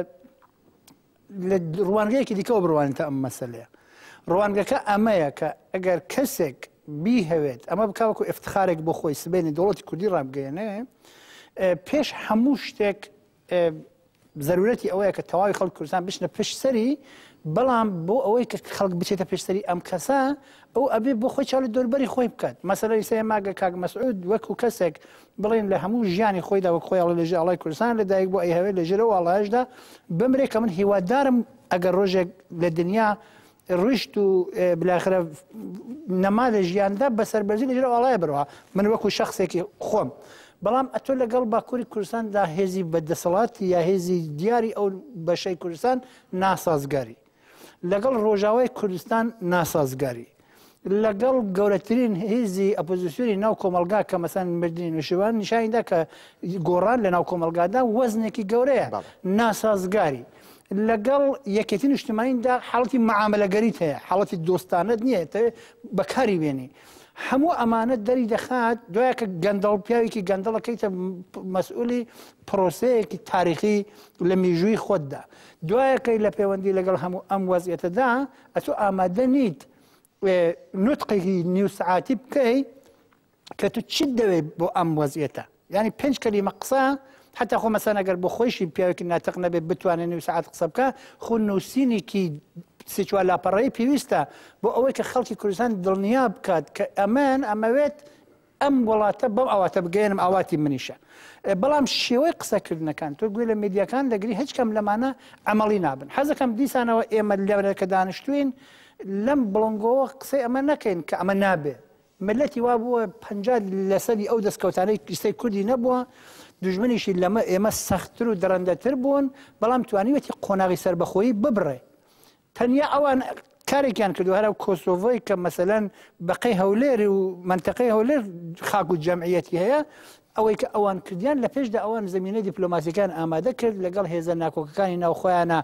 Speaker 2: لە ڕوانگەیەکی دیکەوە بڕوانیتە ئەم مەسەلەیە ڕوانگەکە ئەمەیە کە ئەگەر کەسێک بیهەوێت ئەمە بکوەکو افتخارێک بۆ خۆی سبێنی دەوڵەتی کوردی ڕابگەێنێ پێش هەموو شتێک زەرورەتی ئەوەیە کە تەواوی خەڵک کوردستان بچنە پشتسەری بەڵام بۆ ئەوەی کە خەڵک بچێتە پێشتری ئەم کەسە ئەو ئەبێ بۆ خۆی چاڵی دوربەری خۆی بکات مەسەری سێ ماگە کاک مەسعود وەکو کەسێک بڵێن لە هەموو ژیانی خۆیدا وەک خۆی ئەڵێ لە ژێر ئاڵای کوردستان لە دایک بووە ئەیهەوێ لە ژێر ئەو ئاڵایەشدا بمرێ کە من هیوادارم ئەگەر ڕۆژێک لە دنیا ڕیشت و بلاخرە نەما لە ژیاندا بە سەربەرزی لە ژێر ئەو ئاڵایە بەرەوە من وەکو شخصێکی خۆم بەڵام ئەتۆ لەگەڵ باکووری کوردستاندا هێزی بە دەسەڵاتی یا هێزی دیاری ئەو بەشەی کوردستان ناسازگاری لەگەڵ ڕۆژاوای کوردستان ناسازگاری لەگەڵ گەورەترین هێزی ئەپۆزیسیۆنی ناو کۆمەلگا کە مەسەن مردنی نوشیوان نیشانیدا کە گۆڕان لە ناو کۆمەلگادا وەزنێکی گەورەیە ناسازگاری. لەگەڵ یەکێتی نیشتمانیندا حاڵەتی معاملەگەریت هەیە حاڵەتی دۆستانت نییە بەکاری بێنی. هەموو ئەمانە دەری دەخات دوای کە گەندەڵ پیاوێکی گەندەڵەکەیتە مەسئولی پرۆسەیەکی تاریخی لە میژووی خۆتدا دوایە کەی لە پێوەندی لەگەڵ هەموو ئەم وەزعیەتەدا ئەتۆ ئامادە نیت نوتقێکی نیو سعاتی بکەی کە تو چیت دەوێت بۆ ئەم وەزیێتە ینی پێنج کەلیمە قسە حتا خۆ مەسان ئەگەر بۆ خۆشی پیاوێکی ناتەق نەبێت بتوانێت نیو سعات قسە بکە خو نووسینێکی سێچوە لاپەڕەی پێویستە بۆ ئەوەی کە خەڵکی کوردستان دڵنیا بکات کە ئەمان ئەمەوێت ئەم وڵاتە بەم ئاواتە بگەیەنم ئاواتی منیشە بەڵام شێوەی قسەکردنەکان تۆ گوێ لە میدیاکان دەگری هیچ کەم لەمانە ئەمەڵی نابن حەزەکەم دیسانەوە ئێمە لەورەکە دانیشتوین لەم بڵنگەوە قسەی ئەمە نەکەین کە ئەمە نابێ ملەتی وا بووە پ لەسەری ئەو دەستکەوتانەی قیسەی کوردی نەبووە دژمنیشی لەمە ئێمە سەختتر و دڕندەتر بوون بەڵام توانیوەتی قۆناغی سربەخۆیی ببڕێ تەنیا ئەوان کارێکیان کردوە هەر ئەو کۆسۆڤۆی کە مەسەلەن بەقەی هەولێر و مەنتەقەی هەولێر خاک و جەمعیەتی هەیە ئەوەی کە ئەوان کردیان لە پێشدا ئەوان زمینە دیپلۆماسیەکان ئامادە کرد لەگەڵ هێزە ناکۆکەکانی ناوخۆیانە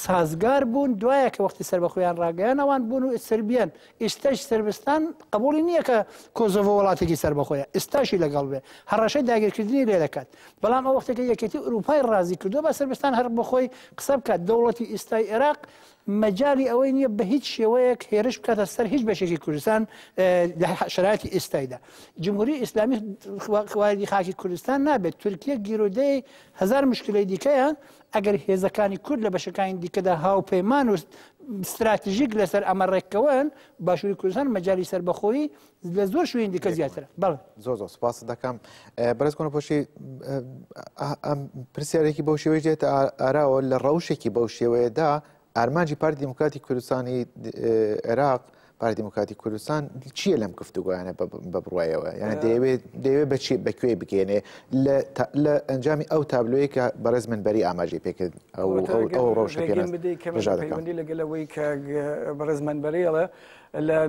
Speaker 2: سازگار بوون دوایە کە وەختی سەر بە خۆیان ڕاگەیان ئەوان بوون و سربیان ئیستەش سربستان قبوڵی نیە کە کۆزۆڤۆ وڵاتێکی سەربەخۆیە ئیستاشی لەگەڵ بێ هەڕەشەی داگیرکردنی لێ دەکات بەڵام ئەو وەختەکە یەکێتی ئوروپای ڕازی کردو بە سربستان هەر بەخۆی قسە بکات دەوڵەتی ئیستای ئێراق مەجای ئەوەی نیە بە هیچ شێوەیەک هێرش بکاتە سەر هیچ بەشێکی کوردستان لە شراتی ئیستایدا جمهوری ئیسلامی خواردی خاکی کوردستان نابێت تورکیە گیرۆدەی هزار مشکلی دیکەیە ئەگەر هێزەکانی کورد لە بەشەکانی دیکەدا هاوپەیمان و ستراتژیک لەسەر ئەمە ڕێککەون باشووری کوردستان مەجای سربەخۆی لە زۆر شوێن دیکە زیاتر بڵ زۆر زۆر سپاس دەکەم
Speaker 1: بەرز کۆنە پۆشی پرسیارێکی بەو شێوەی دێت ئاراوە لە ڕەوشێکی بەو شێوەیەدا ئارمانجی پارتی دیموکراتی کوردستانی عێراق پارتی دیموکراتی کوردستان چییە لەم گفتوگویانە بە بڕایەوە یان دەیەوێت دەیەوێت بە چی بەکوێ بگەێنێ لە ئەنجامی ئەو تابلۆی کە بەڕێز من بەری ئاماژی پێکرد ئەو ڕۆژەکەمەندی
Speaker 3: لەگەلەوەی کە بەڕێز من بەرێڵە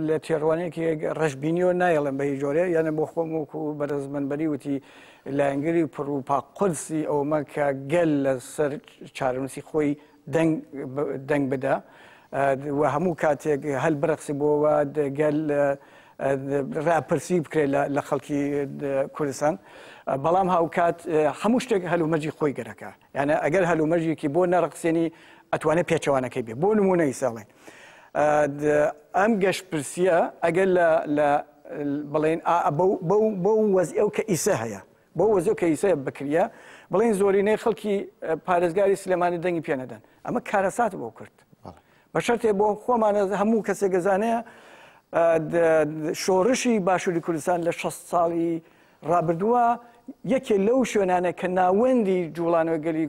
Speaker 3: لە تێڕوانێکی ڕژبینیەوە نایڵم بە هیچ جۆرێ یانە بۆ خۆم وکو بەرز من بەری وتی لایەنگری پڕوپا قرسی ئەومە کە گەل لە سەر چارەنووسی خۆی دەنگ دەنگ بدە و هەموو کاتێک هەل برەقسی بۆەوە گەل ڕاپرسی بکرێت لە خەڵکی کوردستان بەڵام هاوکات هەموو شتێک هەلومەرجی خۆی گەرەکە یانە ئەگەر هەلومەرجێکی بۆ نەڕقسێنی ئەتوانێت پێچەوانەکەی بێ بۆ نمونەی ساڵێن ئەم گەشتپرسیە ئەگەر لە بڵێن بەو وەز ئەو کە ئیسە هەیە بۆ وەزیو کەیسەیە بکریا بڵین زۆرینەی خەڵکی پارێزگاری سلێمانی دەنگی پێ نەدەن ئەمە کارەسات بۆ کرد بە شەرتێ بۆ خۆمانە هەموو کەسێک گەزانەیە شۆڕشی باشووری کوردستان لە 6 ساڵی ڕابردووە یەکێ لەو شوێنانە کە ناوەندی جوڵانەوە گەلی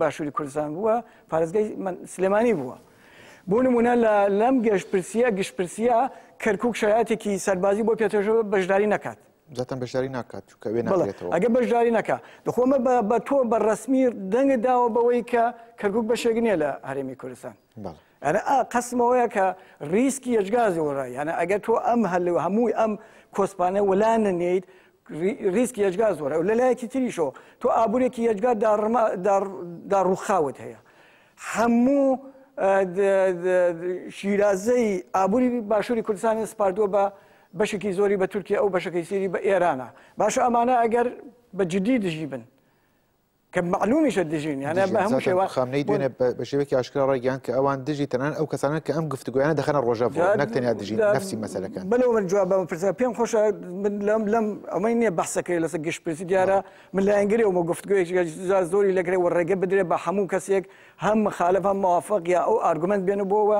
Speaker 3: باشووری کوردستان بووە پارێزگای سلێمانی بووە بۆ نمونە لە لەم گەشتپرسیە گشتپرسیە کەرکک شایاتێکی سەربازی بۆ پێتەژەوە بەشداری نەکات زەتەن بەشداری ناکات
Speaker 1: چکە وێ ناێتەوە ئەگە بەشداری نەکە
Speaker 3: دخۆمە بە تۆ بە ڕسمی دەنگە داوە بەوەی کە کەرکک بەشێک نیە لە هەرێمی کوردستان ئەە قسمەوەیە کە ریسکی یەجگازی وەڕ یانە ئەگە تۆ ئەم هەل و هەمووی ئەم کۆسپانە وەلا نەنیت ریسکی یەجگاز وەرە و لەلایەکی تریشۆ تۆ ئابوورێکی یەجگار دا ڕووخاوت هەیە هەموو شیرازەی ئابووری باشووری کوردستانی سپاردووە بە بەشێکی زۆری بە تورکیە ئەو بەشەکەی سیری بە ئێرانە باشە ئەمانە ئەگەر بە جدی دژی بن کە معلومیشە دژین یانە بە هەموو شێوە خامنەی دوێنێ بە
Speaker 1: شێوەیەکی ئاشکرا ڕایگەیان کە ئەوان دژی تەنان ئەو کەسانە کە ئەم گفتوگویانە دەخەنە ڕۆژەڤ نەک تەنیا دژی نفسی مەسەلەکان بەلەوە من جواب بەم پرسە
Speaker 3: پێم خۆشە من لەم لەم ئەمەی نییە بەحسەکەی لەسەر گشت پرسی دیارە من لایەنگری ومە گفتگوێکی زۆری لەگرێ و ڕێگە بدرێ بە هەموو کەسێک هەم مخالف هەم موافق یا ئەو ئارگومنت بێنە بۆەوە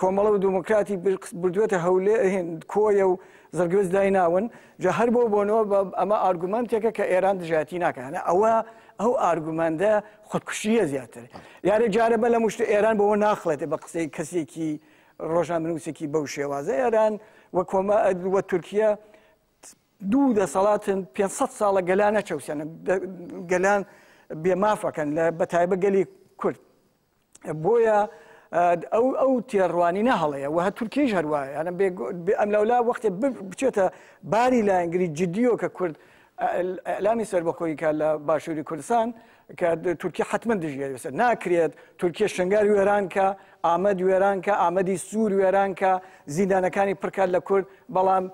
Speaker 3: کۆمەڵە و دموکراتی بردووەتە هەولێ هند کۆیە و زەگرس دایناون جا هەر بۆ بۆنەوە بە ئەمە ئارگومنتێکە کە ئێران دژایەتی ناکەنە ئەوە ئەو ئارگومەندە خودکوشیە زیاتر یارە جارە بە لە مشت ئێران بەوە ناخڵێتێ بە قسەی کەسێکی ڕۆژان بنووسێکی بەو شێوازە ئێران وە کۆمە وە تورکیا دوو دەسەڵاتن 500 ساڵە گەلانە چەوسێنە گەلان بێمافەکەن لە بەتایبە گەلی کورد بۆیە ئەو ئەو تێڕوانینە هەڵەیە وە هە تورکیش هەروایە ئەم لەولا وەختێ بچێتە باری لایەنگری جددیۆ کە کورد ئەلامی سەربەخۆی کە لە باشووری کوردستان کە تورکی حتمما دژیێت ناکرێت تورکیە شنگار وێرانکە ئامەد وێرانکە ئامەدی سوور وێرانکە زیندانەکانی پڕکات لە کورد بەڵام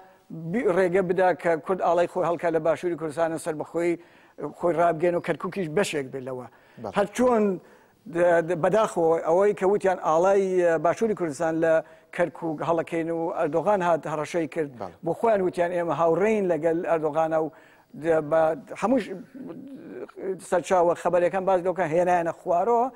Speaker 3: ڕێگە بدا کە کورد ئاڵای خۆی هەڵکە لە باشووری کوردستانە سەربەخۆی خۆی ڕابگەن و کەرککیش بەشێک بێت لەوە هەر چۆن بەداخەوە ئەوەی کە وتیان ئاڵای باشووری کوردستان لە کەرکووک هەڵەکەین و ئەردۆغان هات هەڕەشەی کرد بۆ خۆیان وتیان ئێمە هاوڕێین لەگەل ئەردۆغانە و هەموو سەرچاوە خەبەرەکان باز لەکە هێنایەنە خوارەوە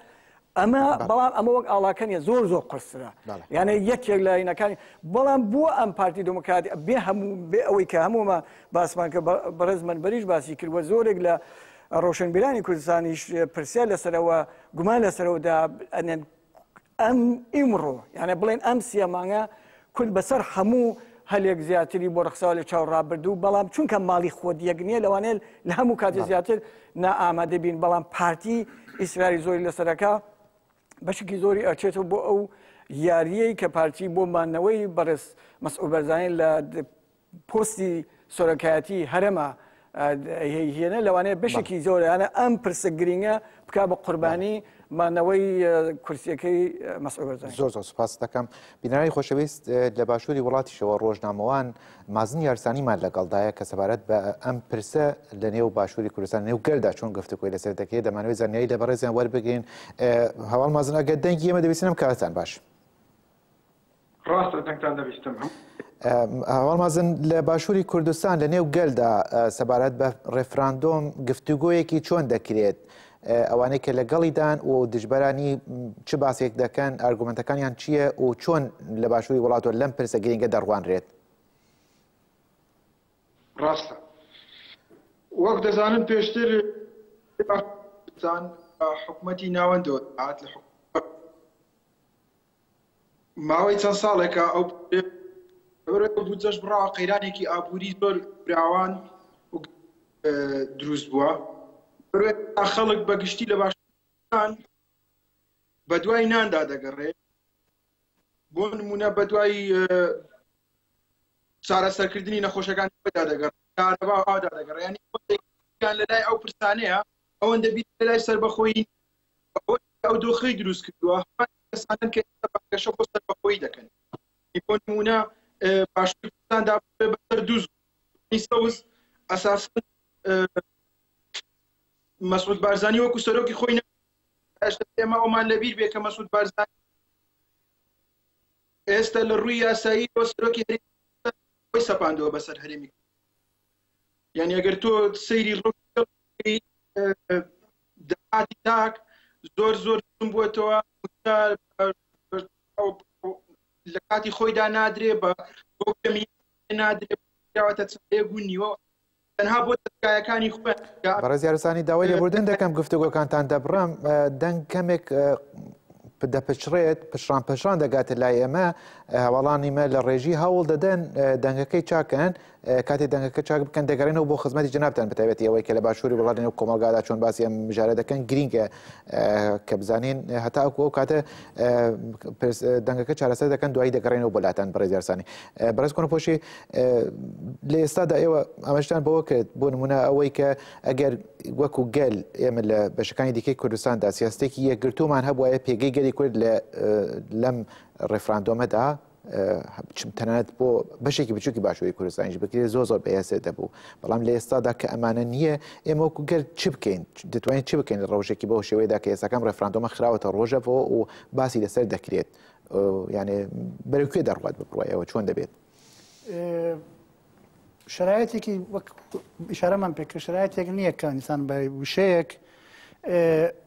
Speaker 3: ئەمە بەڵام ئەمە وەک ئاڵاکەنیە زۆر زۆر قرسرە یانە یەکێک لە ینەکانی بەڵام بۆ ئەم پارتی دموکراتی بێ هەموو بێ ئەوەی کە هەموومە باسمان کە بەڕێز من بەریش باسی کردوە زۆرێک لە ڕۆشنبیرانی کوردستانیش پرسیار لەسەرەوە گومان لەسەرەوەدا ئەنێن ئەم ئیمڕۆ یانە بڵێن ئەم سیە مانگە کورد بەسەر هەموو هەلێک زیاتری بۆ ڕخساوە لە چاو ڕابردوو بەڵام چونکە ماڵی خۆت یەک نییە لەوانێت لە هەموو کاتی زیاتر نائامادە بین بەڵام پارتی ئیسراری زۆری لەسەرەکە بەشکی زۆری ئەچێتەوە بۆ ئەو یاریەی کە پارتی بۆ مانەوەی بەڕێز مەسعود بەرزانانی لە پۆستی سۆرەکایەتی هەرەمە هێنە لەوانەیە بەشێکی زۆرانە ئەم پرسە گرنگە بکە بە قوربانی مانەوەی کورسیەکەی مەسعود زۆر زۆر سپاس دەکەم
Speaker 1: بینایی خۆشەویست لە باشووری وڵاتیشەوە ڕۆژنامەوان مازن یارسانیمان لەگەڵدایە کە سەبارەت بە ئەم پرسە لە نێو باشووری کوردستان نێو گەلدا چۆن گفتوکۆی لەسەر دەکرێت دەمانەوەی زانیایی لە بەڕێزیان وەربگرین هەواڵ مازن ئەگە دەنگی ئێمە دەبیستنم کارتان باش.
Speaker 4: ڕاستە دەنگتان دەبیستم هەم.
Speaker 1: هەواڵ مەزن لە باشووری کوردستان لە نێو گەلدا سەبارەت بە ڕێفراندۆم گفتوگۆیەکی چۆن دەکرێت ئەوانەی کە لەگەڵیدان و دژبەرانی چ باسێک دەکەن ئارگومنتەکانیان چییە و چۆن لە باشووری وڵاتەوە لەم پرسە گرنگە دەڕوانرێت
Speaker 4: ڕاستە وەک دەزانن پێشتر حکومەتی ناوەندەوە هاات لە حکومەت ماوەی چەند ساڵێکە ئەو بەبرۆی ئەو بودجەش بڕاوە قەیرانێکی ئابووری زۆر فراوان و دروست بووە بەبرۆی خەڵک بە گشتی لە باشان بە دوای ناندا دەگەڕێ بۆ نمونە بە دوای چارەسەرکردنی نەخۆشەکان دا دەگەڕێ کارەبا ئادا دەگەڕێ یانی خۆتێکیان لە لای ئەو پرسانەیە ئەوەندە بیت لە لای سەربەخۆیی ئەوەی ئەو دۆخەی دروست کردووە هەمان کەسانن کە ئێستا بانگەشە بۆ سەربەخۆیی دەکەن بۆ نموونە باشووری کوردستاندا بێ بەسەر دوو زۆنی سەوز ئەساسەن مەسعود بارزانی وەکو سەرۆکی خۆی نە ئێستا ئێمە ئەومان لەبیر بێ کە مەسعود بارزانی ئێستا لە ڕووی یاسایی بۆ سەرۆکی هەرێمی خۆی سەپاندەوە بەسەر هەرێمی یعنی ئەگەر تۆ سەیری ڕۆ داهاتی تاک زۆر زۆر کم بووەتەوە مووچە لە کاتی خۆیدا نادرێ بە بەو کەمی نادرێ کراوەتە چاێ بوو نیوە تەنها بۆ دەستگایەکانی خۆ بەڕێز یارسانی
Speaker 1: داوای لێبوردن دەکەم گفتوگۆکانتان دەبڕم دەنگ کەمێک دەپچڕێت پشڕان پشان دەگاتە لای ئێمە هەواڵانیمە لە ڕێژی هەوڵ دەدەن دەنگەکەی چاکەن کاتێ دەنگەکە چاک بکەن دەگەرێنەوە بۆ خزمەتی جنابتان بەتابەتی ئەوەی کە لە باشووری وڵات نێو کۆمەڵگادا چۆن باسی ئەم مژارە دەکەن گرینگە کە بزانین هەتا ئەو ئەو کاتە دەنگەکە چارەسەر دەکەن دوایی دەگەڕێنەوە بۆ لاتان بەڕێزیارسانی بەرز کۆن پۆشی لە ئێستادا ئێوە ئەمەشتان بەوە کرد بۆ نمونە ئەوەی کە ئەگەر وەکو گەل ئێمە لە بەشەکانی دیکەی کوردستاندا سیاستێکی یەکگرتومان هەبواە پێگەی گەلی کورد لە لەم ڕێفراندۆمەدا تەنانەت بۆ بەشێکی بچووکی باشووری کوردستانیش بکرێت زۆر زۆر بەهێزێ دەبوو بەڵام لە ئێستادا کە ئەمانە نییە ئێمە وەکو گەر چ بکەین دەتوانین چ بکەین لە ڕەوشێکی بەو شێوەیەدا کە ئێستاکەم ڕێفراندۆمە خراوەتە ڕۆژەەوە و باسی لەسەر دەکرێت یانێ بەرەکوێ دەڕوات بڕایەوە چۆن دەبێت
Speaker 2: شرایەتێکی وەک شارەمان پێکە شرایەتێک نییە کانیسان بە وشەیەک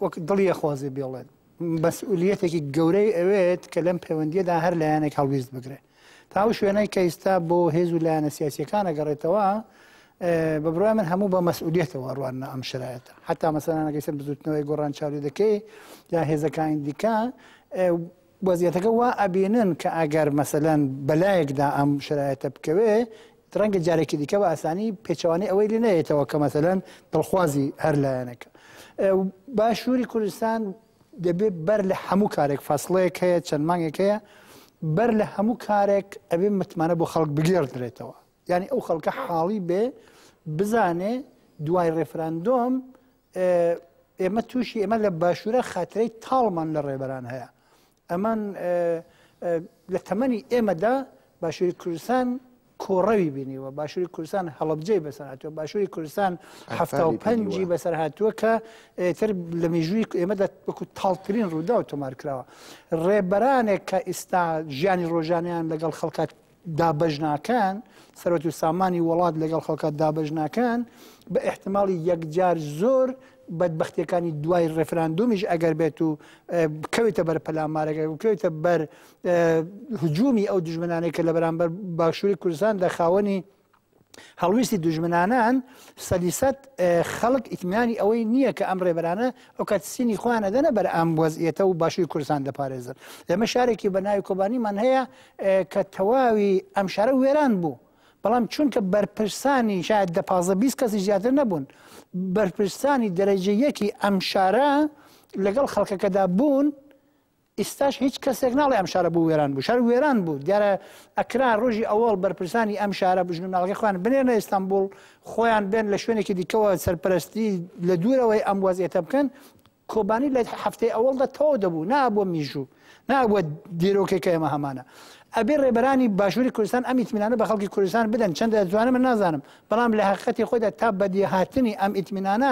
Speaker 2: وەک دڵیە خوازێ بێڵێن مەسئولیەتێکی گەورەی ئەوێت کە لەم پەیوەندییەدا هەر لایەنێک هەڵویست بگرێت تا ئەو شوێنەی کە ئیستا بۆ هێز و لایەنە سیاسیەکان ئەگەڕێتەوە بە بڕای من هەموو بە مەسئولیتەوە ڕوانە ئەم شرایەتە حتا مەسەلانەکەی سەر بزوتنەوەی گۆڕان چاوی دەکەی یا هێزەکانی دیکە وەزیەتەکە وا ئەبینن کە ئەگەر مەسەلەن بەلایەکدا ئەم شرایەتە بکەوێ ڕەنگە جارێکی دیکە بە ئاسانی پێچەوانەی ئەوەی لێ نەیەتەوە کە مەسەلەن دڵخوازی هەر لایەنەکە باشووری کوردستان دەبێت بەر لە هەموو کارێک فاصلەیەک هەیە چەند مانگێک هەیە بەر لە هەموو کارێک ئەبێ متمانە بۆ خەڵک بگێڕدرێتەوە یعنی ئەو خەڵکە حاڵی بێ بزانێ دوای ڕێفراندۆم ئێمە تووشی ئێمە لە باشوورە خاترەی تاڵمان لە ڕێبەران هەیە ئەمان لە تەمەنی ئێمەدا باشووری کوردستان کۆڕەوی بینیوە باشووری کوردستان هەڵبجەی بەسەر هاتووە باشووری کوردستان هەفتا و پەنجی بەسەر هاتووە کە تر لە مێژووی ئێمەدا وەکو تاڵترین ڕوودا و تۆمار کراوە ڕێبەرانێک کە ئیستا ژیانی ڕۆژانیان لەگەڵ خەڵکات دابەش ناکەن سەرەت و سامانی وڵات لەگەڵ خەڵکات دابەش ناکەن بە احتماڵی یەکجار زۆر بەدبختیەکانی دوای ڕێفراندۆمیش ئەگەر بێت و بکەوێتە بەر پەلامارەکە بکەوێتە بەر هجومی ئەو دژمنانێک کە لە بەرامبەر باشووری کوردستان لە خاوەنی هەڵویستی دوژمنانان سەدی سەد خەڵک ئیتمنانی ئەوەی نییە کە ئەم ڕێبەرانە ئۆکات سینی خۆیان ئەدەنە بەر ئەم وەزئێتە و باشووی کوردستان دەپارێزن ئێمە شارێکی بە ناوی کۆبانیمان هەیە کە تەواوی ئەم شارە وێران بوو بەڵام چونکە بەرپرسانی شاید دە پازە بیست کەسی زیاتر نەبوون بەرپرسانی دەرەجە یەکی ئەم شارە لەگەڵ خەڵکەکەدا بوون ئیستاش هیچ کەسێک ناڵێ ئەم شارە بۆ وێران بوو شار وێران بوو دیارە ئەکرا ڕۆژی ئەوەڵ بەرپرسانی ئەم شارە بژن و ناڵگە خۆیان بنێنە ئیستانبول خۆیان بێن لە شوێنێکی دیکەوە سەرپەرستی لە دوورەوەی ئەم وەزیێتە بکەن کۆبانی لە هەفتەی ئەوەڵدا تەواو دەبوو نا بۆ میژوو نا بۆ دیرۆکێکە ئێمە هەمانە ئەبێ ڕێبەرانی باشووری کوردستان ئەم ئیتمینانە بە خەڵکی کوردستان بدەن چەندە جوانە من نازانم بەڵام لە حقەتی خۆدا تا بەدیهاتنی ئەم ئیتمینانە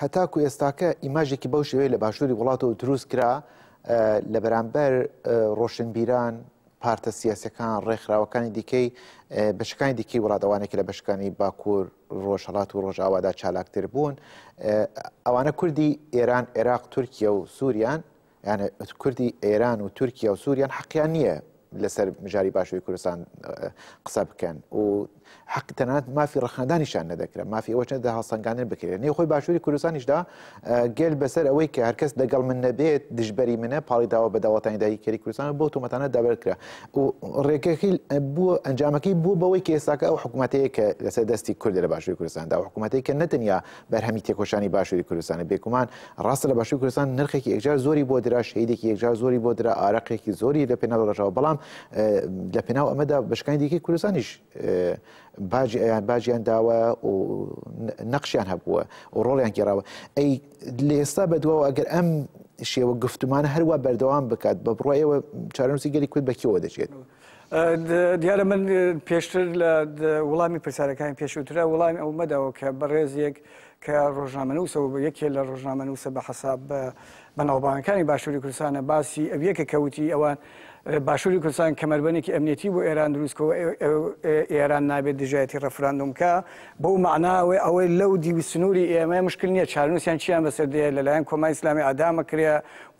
Speaker 1: هەتاکو ئێستاکە ئیماژێکی بەو شێوەیە لە باشووری وڵاتەوە دروست کرا لە بەرامبەر ڕۆشنبیران پارتە سیاسەکان ڕێکخراوەکانی دیکەی بەشەکانی دیکەی وڵات ئەوانێکی لە بەشەکانی باکوور ڕۆژهڵات و ڕۆژاوادا چالاکتر بوون ئەوانە کوردی ئێران عێراق تورکیا و سووریان یانێ کوردی ئێران و تورکیا و سووریان حەقیان نییە لەسەر مژاری باشووی کوردستان قسە بکەن و حەق تەنات مافی ڕخنەدانیشان نەدەکرێت مافی ئەوە چەندە هەڵسەنگانن بکرێت نێ خۆی باشووری کوردستانیشدا گەل بەسەر ئەوەی کە هەرکەس دەگەڵ من نەبێت دژبەری منە پاڵی داوە بە داوەتانی دایی کەری کوردستان بۆ تۆمەتانە دابرکرا و ڕێگەکەی بووە ئەنجامەکەی بوو بەوەی کە ئێستاکە ئەو حکوومەتەیە کە لەسەر دەستی کورد لە باشووری کوردستاندا و حکوومەتەی کە نەتەنیا بەرهەمی تێکۆشانی باشوری کوردستانە بێگومان ڕاستە لە باشوری کوردستان نرخێکی یەکجار زۆری بۆ درا شەیدێکی یەکجار زۆری بۆ درا ئارەقێکی زۆری لە پێناو ڕژاوە بەڵام لە پێناو ئەمەدا بەشکانی دیکەی کوردستانیش باجی ئەیان باجیان داوە و نەقشیان هەبووە و ڕۆڵیان گێراوە ئەی لە ئێستا بەدواوە ئەگەر ئەم شێوە گفتومانە هەروە بەردەوام بکات بە بڕۆ ئێوە چارەنووسی گەلی کورد بەکیەوە دەچێت.
Speaker 3: دیارە من پێشتر لە وڵامی پرسیارەکانی پێشوترە وڵامی ئەو مەدەوە کە بەڕێزیەک کە ڕۆژنامەنووسەوە بە یەکێ لە ڕۆژنامەنووسە بە حساب بە بەناوبانەکانی باشووری کوردستانە باسی ئەویەکە کەوتی ئەوان باشووری کوردستان کەمەربەنێکی ئەمنیەتی بۆ ئێران دروستکەوە ئێران نابێت دژایەتی ڕفراندوم کە بەو معناوەی ئەوەی لەو دیوی سنووری ئێمە مشکل نییە چارنووسیان چیان بەسەر دێ لەلایەن کۆمای ئسلامی ئادامە کرێ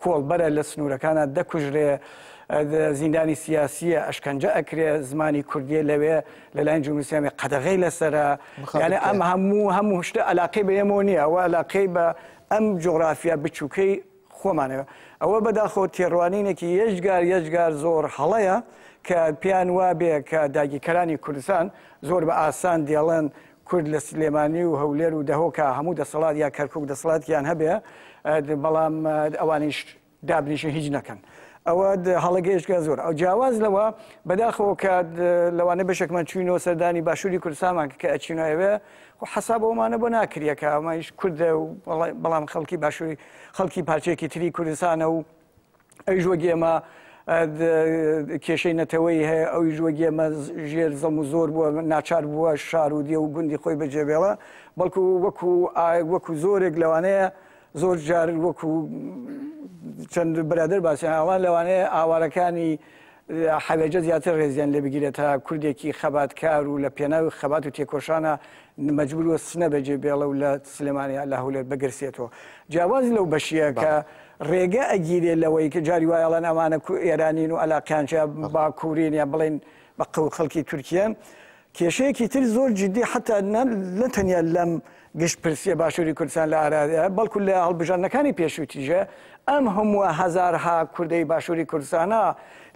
Speaker 3: کۆڵبەرە لە سنوورەکانە دەکوژرێ زیندانی سیاسیە ئەشکەنجە ئەکرێ زمانی کوردیە لەوێ لەلایەن جمهوری اسلامی قەدەغەی لەسەرە یانێ ئەم هەموو هەموو شتە ئەلاقەی بە ئێمەوە نیە ئەوە ئەلاقەی بە ئەم جوغرافیا بچووکەی خۆمانەوە ئەوە بەداخەوە تێڕوانینێکی یەجگار یەجگار زۆر هەڵەیە کە پێیان وابێ کە داگیرکەرانی کوردستان زۆر بە ئاسان دێڵێن کورد لە سلێمانی و هەولێر و دهۆکا هەموو دەسەڵات یا کەرکوک دەسەڵاتیان هەبێ بەڵام ئەوانیش دابنیشن هیچ نەکەن ئەوە هەڵە گەیشتگە زۆر ئەو جیاواز لەوە بەداخەوە کە لەوانە بەشێکمان چوینەوە سەردانی باشووری کوردستانمان کە ئەچینایەوێ و حەساب ئەومانە بۆ ناکریەکە ئەمایش کوردە و بەڵام خەڵکی باشووری خەڵکی پارچێکی تری کوردستانە و ئەی ژۆگی ئێمە کێشەی نەتەوەی هەیە ئەوی ژوەگی ئێمە ژێر زەم و زۆر بووە ناچار بووە شار و دێ و گوندی خۆی بەجێبێڵە بەڵکو وەکو وەکو زۆرێک لەوانەیە زۆر جار وەکو چەند برادر باسیان ئەوان لەوانەیە ئاوارەکانی حەوێجە زیاتر ڕێزیان لێ بگیرێت تا کوردێکی خەباتکار و لە پێناوی خەبات و تێکۆشانە مەجبور وە سنە بەجێ بێڵە و لە سلێمانیا لە هەولێر بگرسێتەوە جیاواز لەو بەشیە کە ڕێگە ئەگیرێ لەوەی کە جاری وایڵەن ئەمانە ئێرانین و ئەلاقیانچە باکوورین یا بڵین بە قەو خەڵکی تورکیان کێشەیەکی تر زۆر جیدی حەتا نە تەنیا لەم گشت پرسیە باشوری کوردستان لە ئارادایە بەڵکو لە هەڵبژاردنەکانی پێشوی تیژە ئەم هەموە هەزارها کوردەی باشوری کوردستانە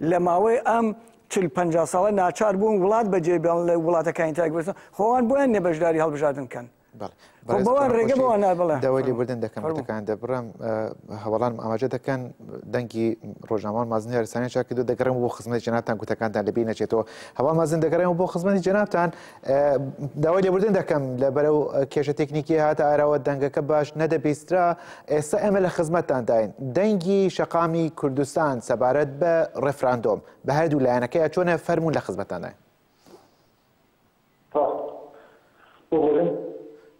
Speaker 3: لە ماوەی ئەم چل پەنجا ساڵە ناچار بون وڵات بەجێ بێڵن لە وڵاتەکانی تایک بستن خۆان بۆیان نیە بەشداری هەڵبژاردن کەن. بەوەێبوردن دەکەمەکان
Speaker 1: دەبڕم هەوڵان ئاماژە دەکەن دەنگی ڕۆژنامان مازنی ئەرسانی چاکرد و دەگەڕم بۆ خزمەت جناتان گوتەکاندا لەبی نەچێتەوە هەوا مازن دەگەڕێن بۆ خزمەتی جناتان داوای لێبوردن دەکەم لە بەرەو کێشە تەکنیکی هات ئاراوە دەنگەکە باش نەدەبیسترا ئێستا ئێمە لە خزمەتانداین دەنگی شەقامی کوردستان سەبارەت بە ڕفراندۆم بە هەردوو لایەنەکەی چۆنە فەرمونون لە خزمەتانە ها ببورن.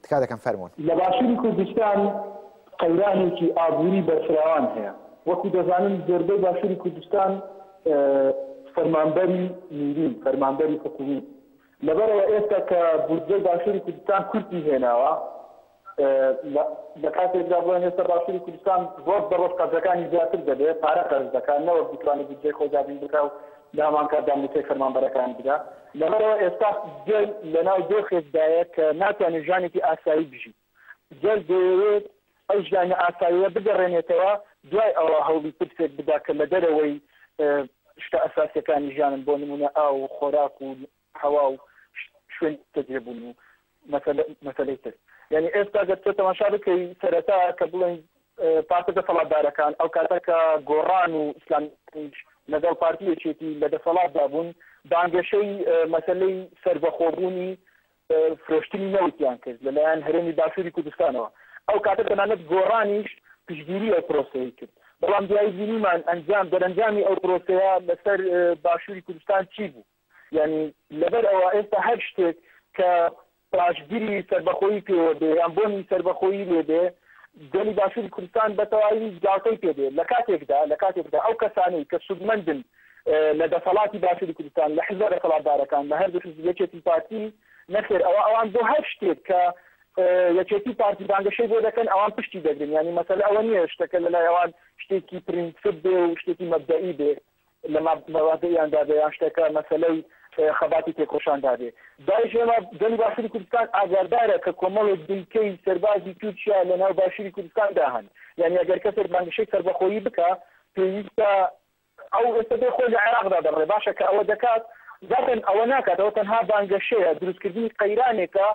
Speaker 1: تکا دەکەم فەرموون. لە باشوری کوردستان
Speaker 5: قەیرانێکی ئابوری بەرفراوان هەیە، وەکو دەزانن زۆربەی باشوری کوردستان فەرمانبەری میرین، فەرمانبەری حکومی، لەبەرئەوە ئێستا کە بودجەی باشوری کوردستان کورتی هێناوە، لە کاتێکدا بڵێن ئێستا باشوری کوردستان ڕۆژ بە ڕۆژ قەرزەکانی زیاتر دەبێت، پارە قەرز دەکات نەوەک بتوانێت بودجەی خۆی دابین بکات و لە هەمان کاتدا مووچەی فەرمانبەرەکانی بدا، لەبەرئەوە ئێستا گەل لەناو دۆخێکدایە کە ناتوانێت ژیانێکی ئاسایی بژیت، گەل دەیەوێت ئەو ژیانە ئاساییە بگەڕێنێتەوە، دوای ئەوە هەوڵی ترسێک بدا کە لە دەرەوەی شتە ئەساسییەکانی ژیانن، بۆ نموونە ئاو و خۆراک و هەوا و شوێنی نیشتەجێبوون و مەسەلەی تر. یانی ئێستا گەر تۆ تەماشا بکەی سەرەتا کە بڵێین پارتە دەسەڵاتدارەکان ئەو کاتە کە گۆڕان و ئیسلامیش لەگەڵ پارتی یەکێتی لە دەسەڵاتدا بوون بانگەشەی مەسەلەی سەربەخۆبوونی فرۆشتنی نەوتیان کرد لەلایەن هەرێمی باشووری کوردستانەوە. ئەو کاتە تەنانەت گۆڕانیش پشتگیری ئەو پرۆسەیەی کرد. بەڵام دوایی بینیمان ئەنجام دەرەنجامی ئەو پرۆسەیە لەسەر باشووری کوردستان چی بوو. یانی لەبەر ئەوە ئێستا هەر شتێک کە پاشگری سەربەخۆیی پێوە بێ یان بۆنی سەربەخۆیی لێ بێ، گەلی باشووری کوردستان بە تەواوی گاڵتەی پێ دێ. لە کاتێکدا لە کاتێکدا ئەو کەسانەی کە سوودمەندن لە دەسەڵاتی باشووری کوردستان، لە حیزبە دەسەڵاتدارەکان، لە هەردوو حیزب، یەکێتی، پارتی، نەخێر ئەوە ئەوان بۆ هەر شتێک کە یەکێتی و پارتی بانگەشەی بۆ دەکەن ئەوان پشتی دەگرن. یانی مەسەلە ئەوە نییە شتەکە لە لای ئەوان شتێکی پرینسپ بێ و شتێکی مەبدەئی بێ. لە مابەوادەیاندا بێ یان شتەکە مەسەلەی خەباتی تێکۆشاندا بێ داعش ئێمە گەلی باشوری کوردستان ئاگاردارە کە کۆمەڵێک دیکەی سەربازی تورکیا لە ناو باشوری کوردستاندا هەن یانی ئەگەر کەسێک بانگشەی سەربەخۆیی بکە پێویستە ئەو ئێستا بێ خۆی لە عێراقدا دەڕێ باشە کە ئەوە دەکات زاتن ئەوە ناکاتەوە تەنها بانگەشەیە دروستکردنی قەیرانێکە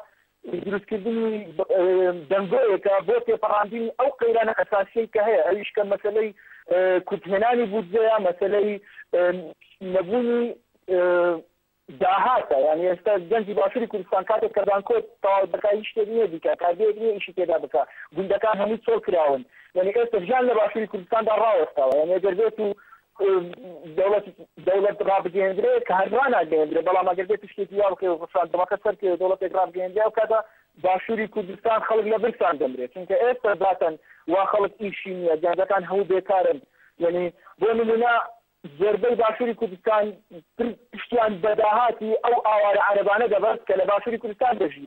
Speaker 5: دروستکردنی دەنگۆیەکە بۆ تێپەڕاندنی ئەو قەیرانە ئەساسیەی کە هەیە ئەویش کە مەسەلەی کورتهێنانی بودجەیە مەسەلەی نەبوونی داهاتە یانی ئێستا گەنجی باشوری کوردستان کاتێک کە زانکۆت تەواو دەکا هیچ شتێک نییە بیکا کارگەیەک نییە ئیشی تێدا بکا گوندەکان هەمووی چۆڵ کراون یانی ئێستا ژیان لە باشوری کوردستاندا ڕاوەستاوە یانی گەر بێتو دەوڵەت دەوڵەت ڕابگەیەندرێت کە هەر ڕناگەیەندرێت بەڵام ئەگەر بێت شتێکی وا بکەێت ڕفراندەمەکە سەرکەێت دەوڵەتێک ڕابگەیەندرێ و کاتە باشووری کوردستان خەڵک لە برسان دەمرێت چونکە ئێستا زاتەن وا خەڵک ئیشی نییە گەنجەکان هەموو بێکارن یعنی بۆ نمونە زۆربەی باشووری کوردستان پشتیان بەداهاتی ئەو ئاوارە عەربانە دەبەست کە لە باشووری کوردستان دەژی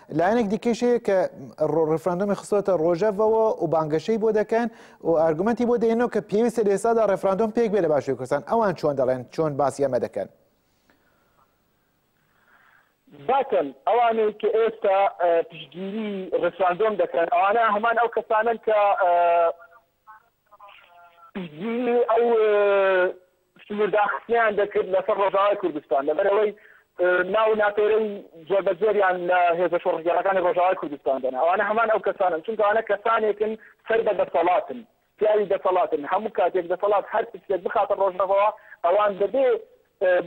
Speaker 1: لایەنێک دیکەیش هەیە کە ڕێفراندۆمی خستۆتە ڕۆژەڤەوە و بانگەشەی بۆ دەکەن و ئارگومنتی بۆ دێنەوە کە پێویستە لە ئێستادا ڕێفراندۆم پێک بێ لە باشووی کوردستان ئەوان چۆن دەڵێن چۆن باسی ئەمە دەکەن
Speaker 5: باکەن ئەوانەی کە ئێستا پشتگیری ڕێفراندۆم دەکەن ئەوانە هەمان ئەو کەسانن کە پشتگیری ئەو سنوورداخستنەیان دەکرد لەسەر ڕۆژاوای کوردستان لەبەرەوەی ناو و ناپێرەی جۆربەجۆریان لە هێزە شۆڕشگێڕەکانی ڕۆژاوای کوردستان دەنا ئەوانە هەمان ئەو کەسانن چونکە ئەوانە کەسانێکن سەر بە دەسەڵاتن پیاوی دەسەڵاتن هەموو کاتێک دەسەڵات هەر پرسێک بخاتە ڕۆژەڤەوە ئەوان دەبێ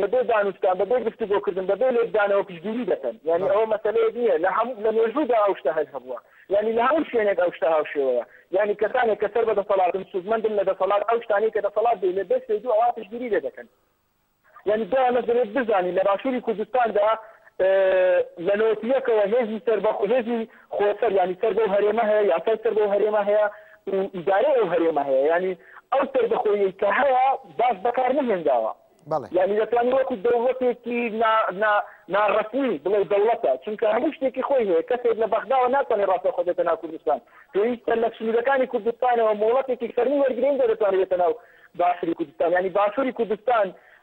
Speaker 5: بەبێ دانوستان، بەبێ گفتوگۆکردن، بەبێ لێکدانەوە پشتگیری دەکەن. یانی ئەوە مەسەلەیەک نییە، لە هەموو، لە مێژوودا ئەو شتە هەر هەبووە. یانی لە هەموو شوێنێک ئەو شتە هاوشێوەیە. یانی کەسانێک کە سەر بە دەسەڵاتن، سوودمەندن لە دەسەڵات، ئەو شتانەی کە دەسەڵات دەیڵێت بێ فەیدو ئەوا پشتگیری لێ دەکەن. یانی بۆ ئەمەش دەبێت بزانین لە باشووری کوردستاندا لە نۆتی یەکەوە هێزی سەربەخۆ، هێزی خۆ سەر یانی سەر بەو هەرێمە هەیە یاسای سەر بەو هەرێمە هەیە و ئیدارەی ئەو هەرێمە هەیە یانی ئەو سەربەخۆیەی کە هەیە باش بەکار نەهێنراوە بەڵێ. یانی دەتوانی وەکو دەوڵەتێکی نا نا ناڕەسمی بڵێی دەوڵەتە چونکە هەموو شتێکی خۆی هەیە کەسێک لە بەغداوە ناتوانێ ڕاستەوخۆ بێتە ناو کوردستان پێویستە لە سنوورەکانی کوردستانەوە مۆڵەتێکی فەرمی وەرگرێ ئینجا دەتوانێ بێتە ناو باشووری کوردستان یانی باشووری کوردستان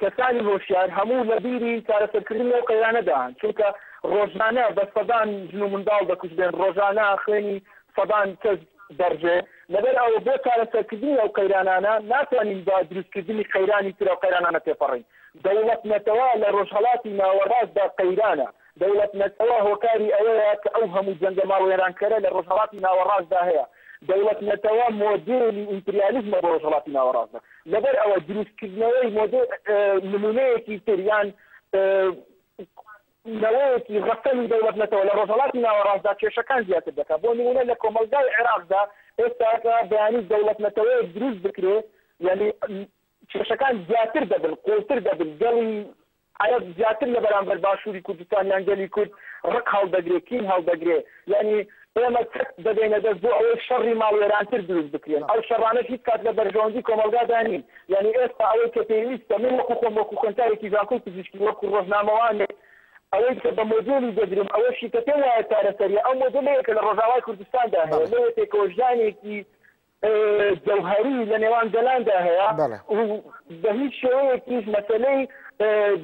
Speaker 5: کەسانی هۆشیار هەموو لە بیری چارەسەرکردنی ئەو قەیرانە دان، چونکە ڕۆژانە بە سەدان ژن و منداڵ دەکوژرێن، ڕۆژانە خوێنی سەدان کەس دەڕژێ، لەبەر ئەوە بۆ چارەسەرکردنی ئەو قەیرانانە ناتوانین بە دروستکردنی قەیرانی تر ئەو قەیرانانە تێپەڕین، دەوڵەت-نەتەوە لە ڕۆژهەڵاتی ناوەڕاستدا قەیرانە. دەوڵەتمەند ئەوا هۆکاری ئەوەیە کە ئەو هەموو جەنگە ماڵوێرانکەرە لە ڕۆژهەڵاتی ناوەڕاستدا هەیە، دەوڵەتنەتەوە مۆدێلی ئیمپریالیزمە بۆ ڕۆژهەڵاتی ناوەڕاستدا، لەبەر ئەوە دروستکردنەوەی مۆدێ نموونەیەکی تر یان نەوەیەکی ڕەسەنی دەوڵەتنەتەوە لە ڕۆژهەڵاتی ناوەڕاستدا کێشەکان زیاتر دەکات، بۆ نموونە لە کۆمەڵگای عێراقدا ئێستا کە بەیانی دەوڵەتنەتەوەیەک دروست بکرێت یانی کێشەکان زیاتر دەبن قوڵتر دەبن گەڵی عەرەب زیاتر لە بەرامبەر باشوری کوردستان یان گەلی کورد ڕق هەڵدەگرێ کین هەڵدەگرێ یانی ئێمە چەک دەدەینە دەست بۆ ئەوەی شەڕی ماڵوێرانتر دروست بکرێن ئەو شەڕانەش هیچ کات لە بەرژەوەندی کۆمەڵگادا نین یانی ئێستا ئەوەی کە پێویستە من وەکو خۆم وەکو خوێندکارێکی زانکۆی پزیشکی وەکو ڕۆژنامەوانێک ئەوەی کە بە مۆدێلی دەگرم ئەوەشی کە پێم وایە چارەسەریە ئەو مۆدێلەیە کە لە ڕۆژاوای کوردستاندا هەیە لەوێ پێکەوەژیانێکی جەوهەری لە نێوان گەلاندا هەیە بەڵێ. و بە هیچ شێوەیەکیش مەسەلەی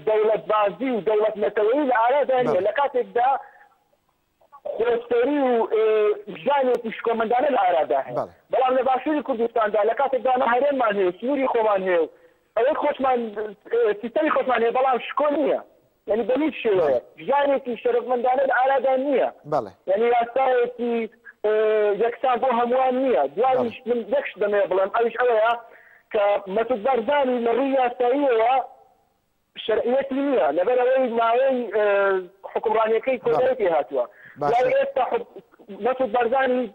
Speaker 5: دەوڵەتبازی و دەوڵەت نەتەوەیی لە ئارادا نییە بەڵێ. لە کاتێکدا خۆسەری و ژانێکی شکۆمەندانە لە ئارادا هەیە بەڵێ. بەڵام لە باشووری کوردستاندا لە کاتێکدا ئەمە هەرێممان هەیە سنووری خۆمان هەیە و ئەوەی خۆشمان سیستەمی خۆشمان هەیە بەڵام شکۆ نییە یانی بە هیچ شێوەیەک ژیانێکی شەرەفمەندانە لە ئارادا نییە، یانی یاسایەکی یەکسان بۆ هەمووان نییە، دواییش من یەک شت دەمەوێت بڵێم ئەویش ئەوەیە کە مەسود بارزانی لە ڕووی یاساییەوە شەرعیەتی نییە لەبەر ئەوەی ماوەی حوکمڕانییەکەی کۆتایی پێهاتووە، دوای ئێستا مەسود بارزانی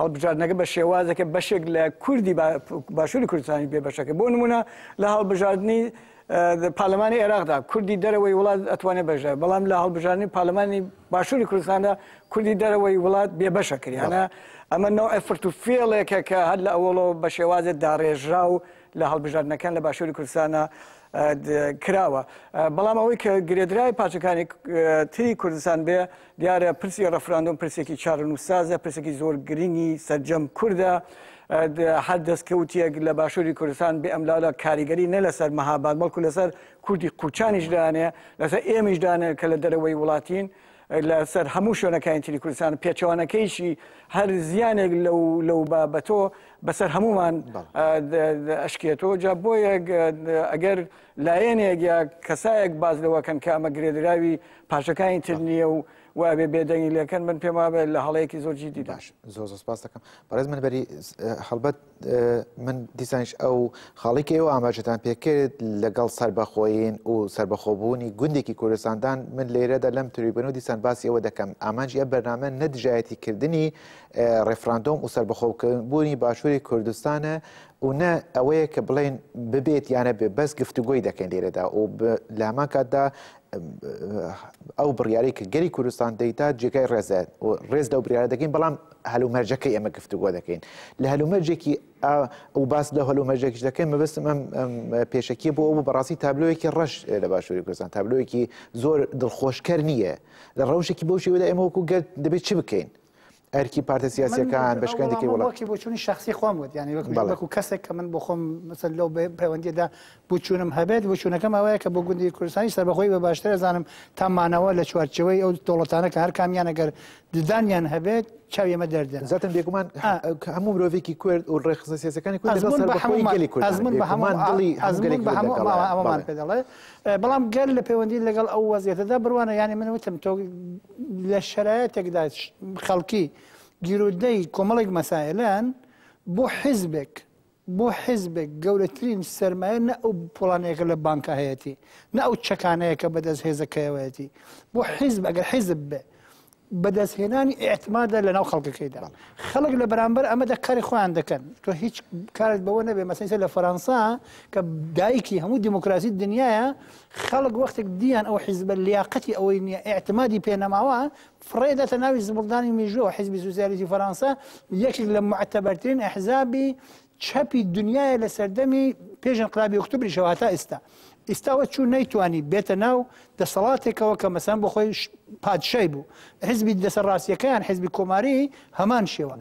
Speaker 3: هەڵبژاردنەکە بە شێوازێکە بەشێک لە کوردی باشووری کوردستانی بێ بەشەکە بۆ نمونە لە هەڵبژاردنی پارلەمانی عێراقدا کوردی دەرەوەی وڵات ئەتوانێت بەشدا بەڵام لە هەڵبژاردنی پارلەمانی باشووری کوردستاندا کوردی دەرەوەی وڵات بێ بەشە کریانە ئەمە ناو ئەفرت و فێڵێکە کە هەر لە ئەوڵەوە بە شێوازێت داڕێژرا و لە هەڵبژاردنەکان لە باشووری کوردستانە کراوە بەڵام ئەوەی کە گرێدرای پارچەکانی تری کوردستان بێ دیارە پرسی ڕفراندۆم پرسێکی چارەنووسسازە پرسێکی زۆر گرنگی سەرجەم کوردە هەر دەستکەوتیەک لە باشووری کوردستان بێ ئەملالا کاریگەری نە لەسەر مەهاباد بەڵکو لەسەر کوردی قوچانیش دانێ لەسەر ئێمەش دانێ کە لە دەرەوەی وڵاتین لەسەر هەموو شوێنەکانی تری کوردستان پێچوانەکەیشی هەر زیانێک لەو لەو بابەتۆ بەسەر هەمومان ئەشکێتەوە جا بۆیە ئەگەر لایەنێک یا کەسایەک باس لەوەکەن کە ئەمە گرێدراوی پارچەکانی تر نییە و وابێ بێدەنگی لەکەن من پێم وابێت لە هەڵەیەکی زۆر جیدی باش زۆر زۆر سپاس
Speaker 1: دەکەم بەڕێز من بەری هەڵبەت من دیسانش ئەو خاڵێکی ئێوە ئاماژەتان پێکرد لەگەڵ سربەخۆین و سربەخۆبوونی گوندێکی کوردستاندان من لێرەدا لەم تریبن و دیسان باسی ئەوە دەکەم ئامانجی ئە بەرنامە نەدژایەتی کردنی ڕێفراندۆم و سربەخۆکردبوونی باشووری کوردستانە و نە ئەوەیە کە بڵێن ببێت یا نەبێت بەس گفتوگۆی دەکەین لێرەدا و لە هەمان کاتدا ئەو بڕیارەی کە گەلی کوردستان دەیتا جێگای ڕێزە و ڕێز لەو بریارە دەکەین بەڵام هەلومەرجەکە ئێمە گفتوگۆ دەکەین لە هەلومەرجێکی ئەو باس لە هەلومەرجێکش دەکەین مەبستم ئەم پێشکی بۆ ئەو بەڕاستی تابلۆیەکی ڕەش لە باشووری کوردستان تابلۆیەکی زۆر دڵخۆشکەر نییە لە ڕەوشێکی بۆ شێوەدا ئێمە وەکو گەر دەبێت چ بکەین ئەرکی پارتە سیاسەکان بەشکەندێکی وڵاتی بۆچوونی شخصی
Speaker 2: خۆم وت ینی وەکو کەسێک کە من بۆ خۆم مثل لەو پەیوەندیدا بچوونم هەبێت بچوونەکەم ئەوەیە کە بۆ گوندی کوردستانی سەربەخۆی بە باشتر ئەزانم تا مانەوە لە چوارچەوەی ئەو دەوڵەتانە کە هەر کامیان ئەگەر ددانیان هەبێت چاوی ئەمە دەردێن زەتن بێگومان
Speaker 1: هەموو مرۆڤێکی کورد و ڕێخزە سیاسەکانی کورد بە هەمومان دڵی هەموو دڵی
Speaker 2: هەموو ئەوەمان پێ دەڵێت بەڵام گەر لە پەیوەندی لەگەڵ ئەو وەزعیەتەدا بڕوانە یانی من وتم تۆ لە شەرایەتێکدا خەڵکی گیرودەی کۆمەڵێک مەسائلەن بۆ حیزبێک بۆ حیزبێک گەورەترین سرمایە نە ئەو پۆڵانەیەەکە لە بانکە هەیەی نە ئەو چەکانەیە کە بەدەست هێزەکەیەوەیەتی بۆ حیزب ئەگەر حیزب بێ بەدەستهێنانی ئیعتمادە لەناو خەڵکەکەیدا خەڵک لە بەرامبەر ئەمەدا کاری خۆیان دەکەن تۆ هیچ کارت بەوە نەبێ مەسەسە لە فەرەنسا کە دایکی هەموو دیموکراسی دنیاە خەڵک وەختێک دییان ئەو حیزبە لیاقەتی ئەوەی نییە ئاعتمادی پێنەماوە فڕێدەتە ناوی زبڵدانی میژۆ حیزبی سوسیالیزی فەرەنسا یەکێک لە معتەبەرترین ئەحزابی چەپی دنیایە لە سەردەمی پێش انقلابی ئۆکتوبریشەوە هەتا ئیستا ئیستا وە چوو نەیتوانی بێتە ناو دەسەڵاتێکەوە کە مەسەن بۆ خۆی پادشای بوو حزبی دەسە ڕاستیەکەیان حزبی کۆماری هەمان شێوە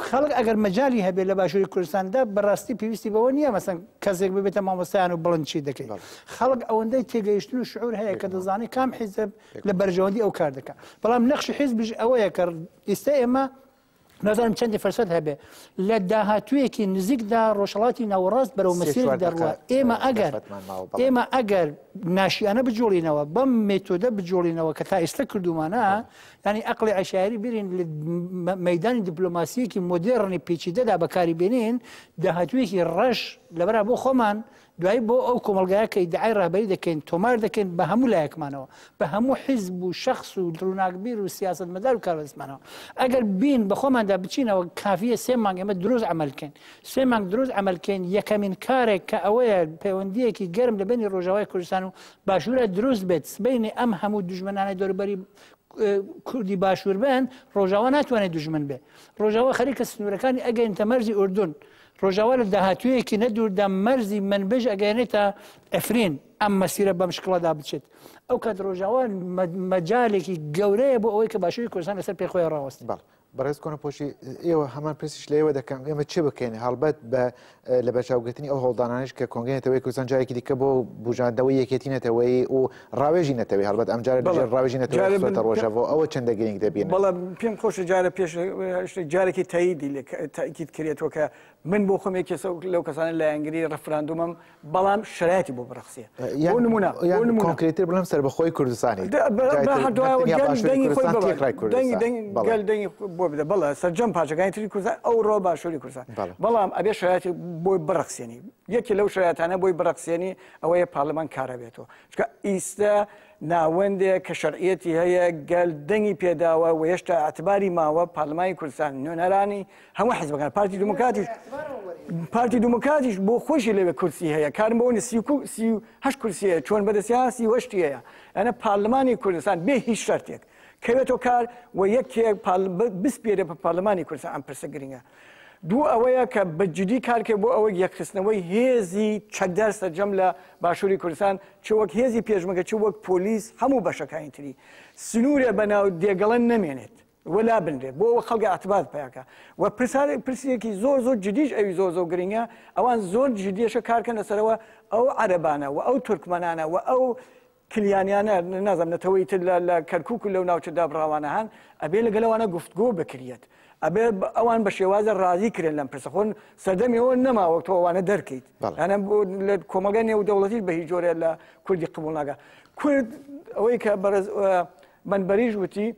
Speaker 2: خەڵک ئەگەر مەجای هەبێت لە باشووری کوردستاندا بەڕاستی پێویستی بەوە نییە مەسەن کەسێک ببێتە مامۆستایان و بڵند چی دەکەیت خەڵک ئەوەندەی تێگەیشتن و شعور هەیە کە دەزانانی کام حیزب لە بەرژەوەندی ئەو کار دەکات بەڵام نەخشی حیزبش ئەوەیە کە ئیستا ئێمە نازانم چەندی فەرسەد هەبێ لە داهاتوویەکی نزیکدا ڕۆژهڵاتی ناوەڕاست بەرەو مەسیرێک دەڕوە ئێمە ئەگەر ئێمە ئەگەر ناشیانە بجوڵینەوە بەم مێتۆدە بجوڵینەوە کە تا ئێستا کردومانە ینی ئەقلی عشاری بیرین مەدانی دیپلۆماسیەکی مۆدێڕنی پیچیدەدا بەکاری بێنین داهاتوویەکی ڕەش لەبرا بۆ خۆمان دوایی بۆ ئەو کۆمەڵگایە کە ئیدعای ڕابەری دەکەین تۆمار دەکەین بە هەموو لایەکمانەوە بە هەموو حیزب و شخص و ڕووناکبیر و سیاست مەدار و کاربەدەستمانەوە ئەگەر بین بەخۆماندا بچینەوە کافیە سێ مانگ ئێمە دروست عملکەین سێ مانگ دروست عملکەین یەکەمین کارێک کە ئەوەیە پەیوەندیەکی گەرم لە بینی ڕۆژاوای کوردستان و باشوورە دروست بێت سبینی ئەم هەموو دژمنانە دەوروبەری کوردی باشوور بن ڕۆژاوا ناتوانێت دژمن بێ ڕۆژاوا خەریکە سنوورەکانی ئەگەین تەمەرزی ئوردون ڕۆژاوا لە داهاتوویەکی نەدووردا مەرزی منبج ئەگەێنێتە ئەفرین ئەم مەسیرە بەم شکڵەدا بچێت ئەو کات ڕۆژاوا مەجالێکی گەورەیە بۆ ئەوەی کە باشووری کوردستان لەسەر پێخۆی ڕاوەست بەڵ بەڕێز
Speaker 1: کۆنەپۆشی ئێوە هەمان پرسیش لەوە دەکەم ئێمە چ بکەین هەڵبەت بە لە بەرچاوگرتنی ئەو هەڵدانانش کە کۆنگەنێتەوەی کوردستان جارێکی دیکە بۆ بژاندەوەی یەکێتی نەتەوەی و ڕاوێژی نەتەوەیی هەڵبەت ئەم جارە دژە ڕاوێژی نەتەوەیی خستۆتە ڕۆژەڤ، ئەوە چەندە گرینگ دەبینن؟ بەڵام پێم خۆشە
Speaker 3: جارە پێش شتێک جارێکی تەییدی لێ تەئکید کرێتەوە کە من بۆ خۆم یەکێ لەو کەسانە لایەنگری ڕێفراندۆمم بەڵام شەرایەتی بۆ بڕەخسێ بۆ نموونە بۆ نموونە کۆنکرێتتر بڵێم سەربەخۆیی
Speaker 1: کوردستانی
Speaker 3: گەل دەنگی بۆ بدە بەڵێ سەرجەم پارچەکانی تری کوردستان ئەوڕۆ باشووری کوردستان بەڵام ئەبێ شەرایەتی بۆی بڕەخسێنی یەکێ لەو شەرایەتانە بۆی بڕەخسێنی ئەوەیە پارلمان کارا بێتەوە چکە ئیستە ناوەندێک کە شەرعەتی هەیە گەل دەنگی پێداوە و هێشتا ئەتباری ماوە پارلمانی کوردستان نوێنەرانی هەموو حزبەکان پارتی دموکاتیش پارتی دموکاتیش بۆ خۆشی لەوێ کورسی هەیە کارم بۆ هە کورسیە چۆن بەدەسیاسی وەشتی هەیە ئەە پارلمانی کوردستان بێ هیچ شەرتێک کەوێتەوە کار و یەکێک بسپێرە بە پارلمانی کوردستان ئەم پرسە گرنگە دوو ئەوەیە کە بە جدی کارکرد بۆ ئەوەی یەکخستنەوەی هێزی چەکدار سەرجەم لە باشوری کوردستان چ وەک هێزی پێشمەگە چ وەک پۆلیس هەموو بەشەکانی تری سنورێ بە ناو دێگەڵە نەمێنێت و لابنرێت بۆ ئەوە خەڵکە ئەتبات پیاکە و پرسارێک پرسیەکی زۆر زۆر جدیش ئەوی زۆر زۆر گرنگە ئەوان زۆر جدیشە کارکەن لەسەرەوە ئەو عەرەبانە و ئەو تورکمەنانە و ئەو کلیانیانە نازانم نەتەوەی تر لە لە کەرکوک و لەو ناوچە دابڕاوانە هەن ئەبێ لەگەل ئەوانە گفتگۆ بکریەت ئەبێ ئەوان بە شێوازە ڕازی کرێن لەم پرسە خۆن سەردەمی ئەوە نەما وەک تۆ ئەوانە دەرکەیت بەڵێ. یانە بۆ لە کۆمەلگای نێو دەوڵەتیش بە هیچ جۆرێ لە کوردی قبوڵ ناکا کورد ئەوەی کە بەڕێز ئە، بەنبەریش وتی،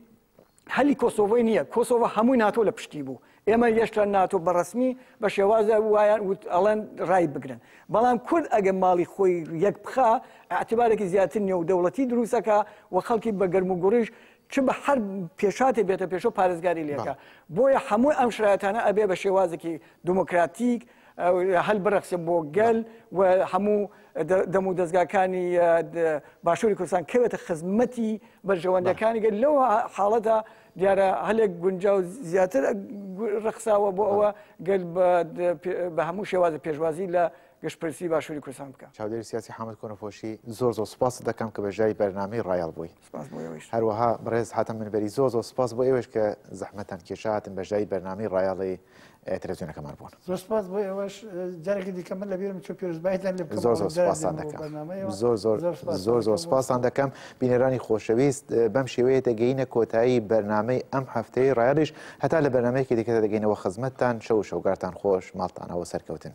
Speaker 3: هەلی کۆسۆڤۆی نیە کۆسۆڤۆ هەمووی ناتۆ لە پشتی بوو ئێمە یێشتا ناتۆ بە ڕەسمی بە شێوازە وایە وت ئەڵێن ڕای بگرن بەڵام کورد ئەگەر ماڵی خۆی یەک بخا ئەعتبارێکی زیاتر نێودەوڵەتی دروستەکە و خەڵکی بە گەرم و گوڕیش چ بە هەر پێشاتێ بێتە پێشۆ پارێزگاری لێکە بۆیە هەموو ئەم شرایەتانە ئەبێ بە شێوازێکی دموکراتیک هەل بڕەخسێ بۆ گەل و هەموو دەم و دەستگاکانی باشووری کوردستان کەوێتە خزمەتی بەرژەوەندەکانی گەل لەو حاڵەتە دیارە هەلێک گونجا و زیاتر ڕخساوە بۆ ئەوە گەل بە هەموو شێوازە پێشوازی لە گشتپرسی باشووری کوردستان بکە چاودێری سیاسی حامد
Speaker 1: کۆنەپۆشی زۆر زۆر سپاست دەکەم کە بەشداری بەرنامەی ڕایەڵ بووی. سپاس بۆ ئێوەیش. هەروەها بەڕێز حاتەم منبەری زۆر زۆر سپاس بۆ ئێوەیش کە زەحمەتتان کێشا هاتن بەشداری بەرنامەی ڕایەڵی تەلەفزیۆنەکەمان بوون. زۆر سپاس بۆ ئێوەش
Speaker 2: جارێکی دیکە من لەبیرم چوو پیرۆزبایتان لێ بکەم زۆر زۆر سپاستان دەکەم
Speaker 1: بۆ بەرنامەیەوە زۆر زۆر زۆر سپاس زۆر زۆر سپاستان دەکەم بینەرانی خۆشەویست بەم شێوەیە دەگەینە کۆتایی بەرنامەی ئەم هەفتەی ڕایەڵیش هەتا لە بەرنمەیەکی دیکەدا دەگەینەوە خزمەتتان شەو و شەوگارتان خۆش ماڵتانەوە سەرکەوتن.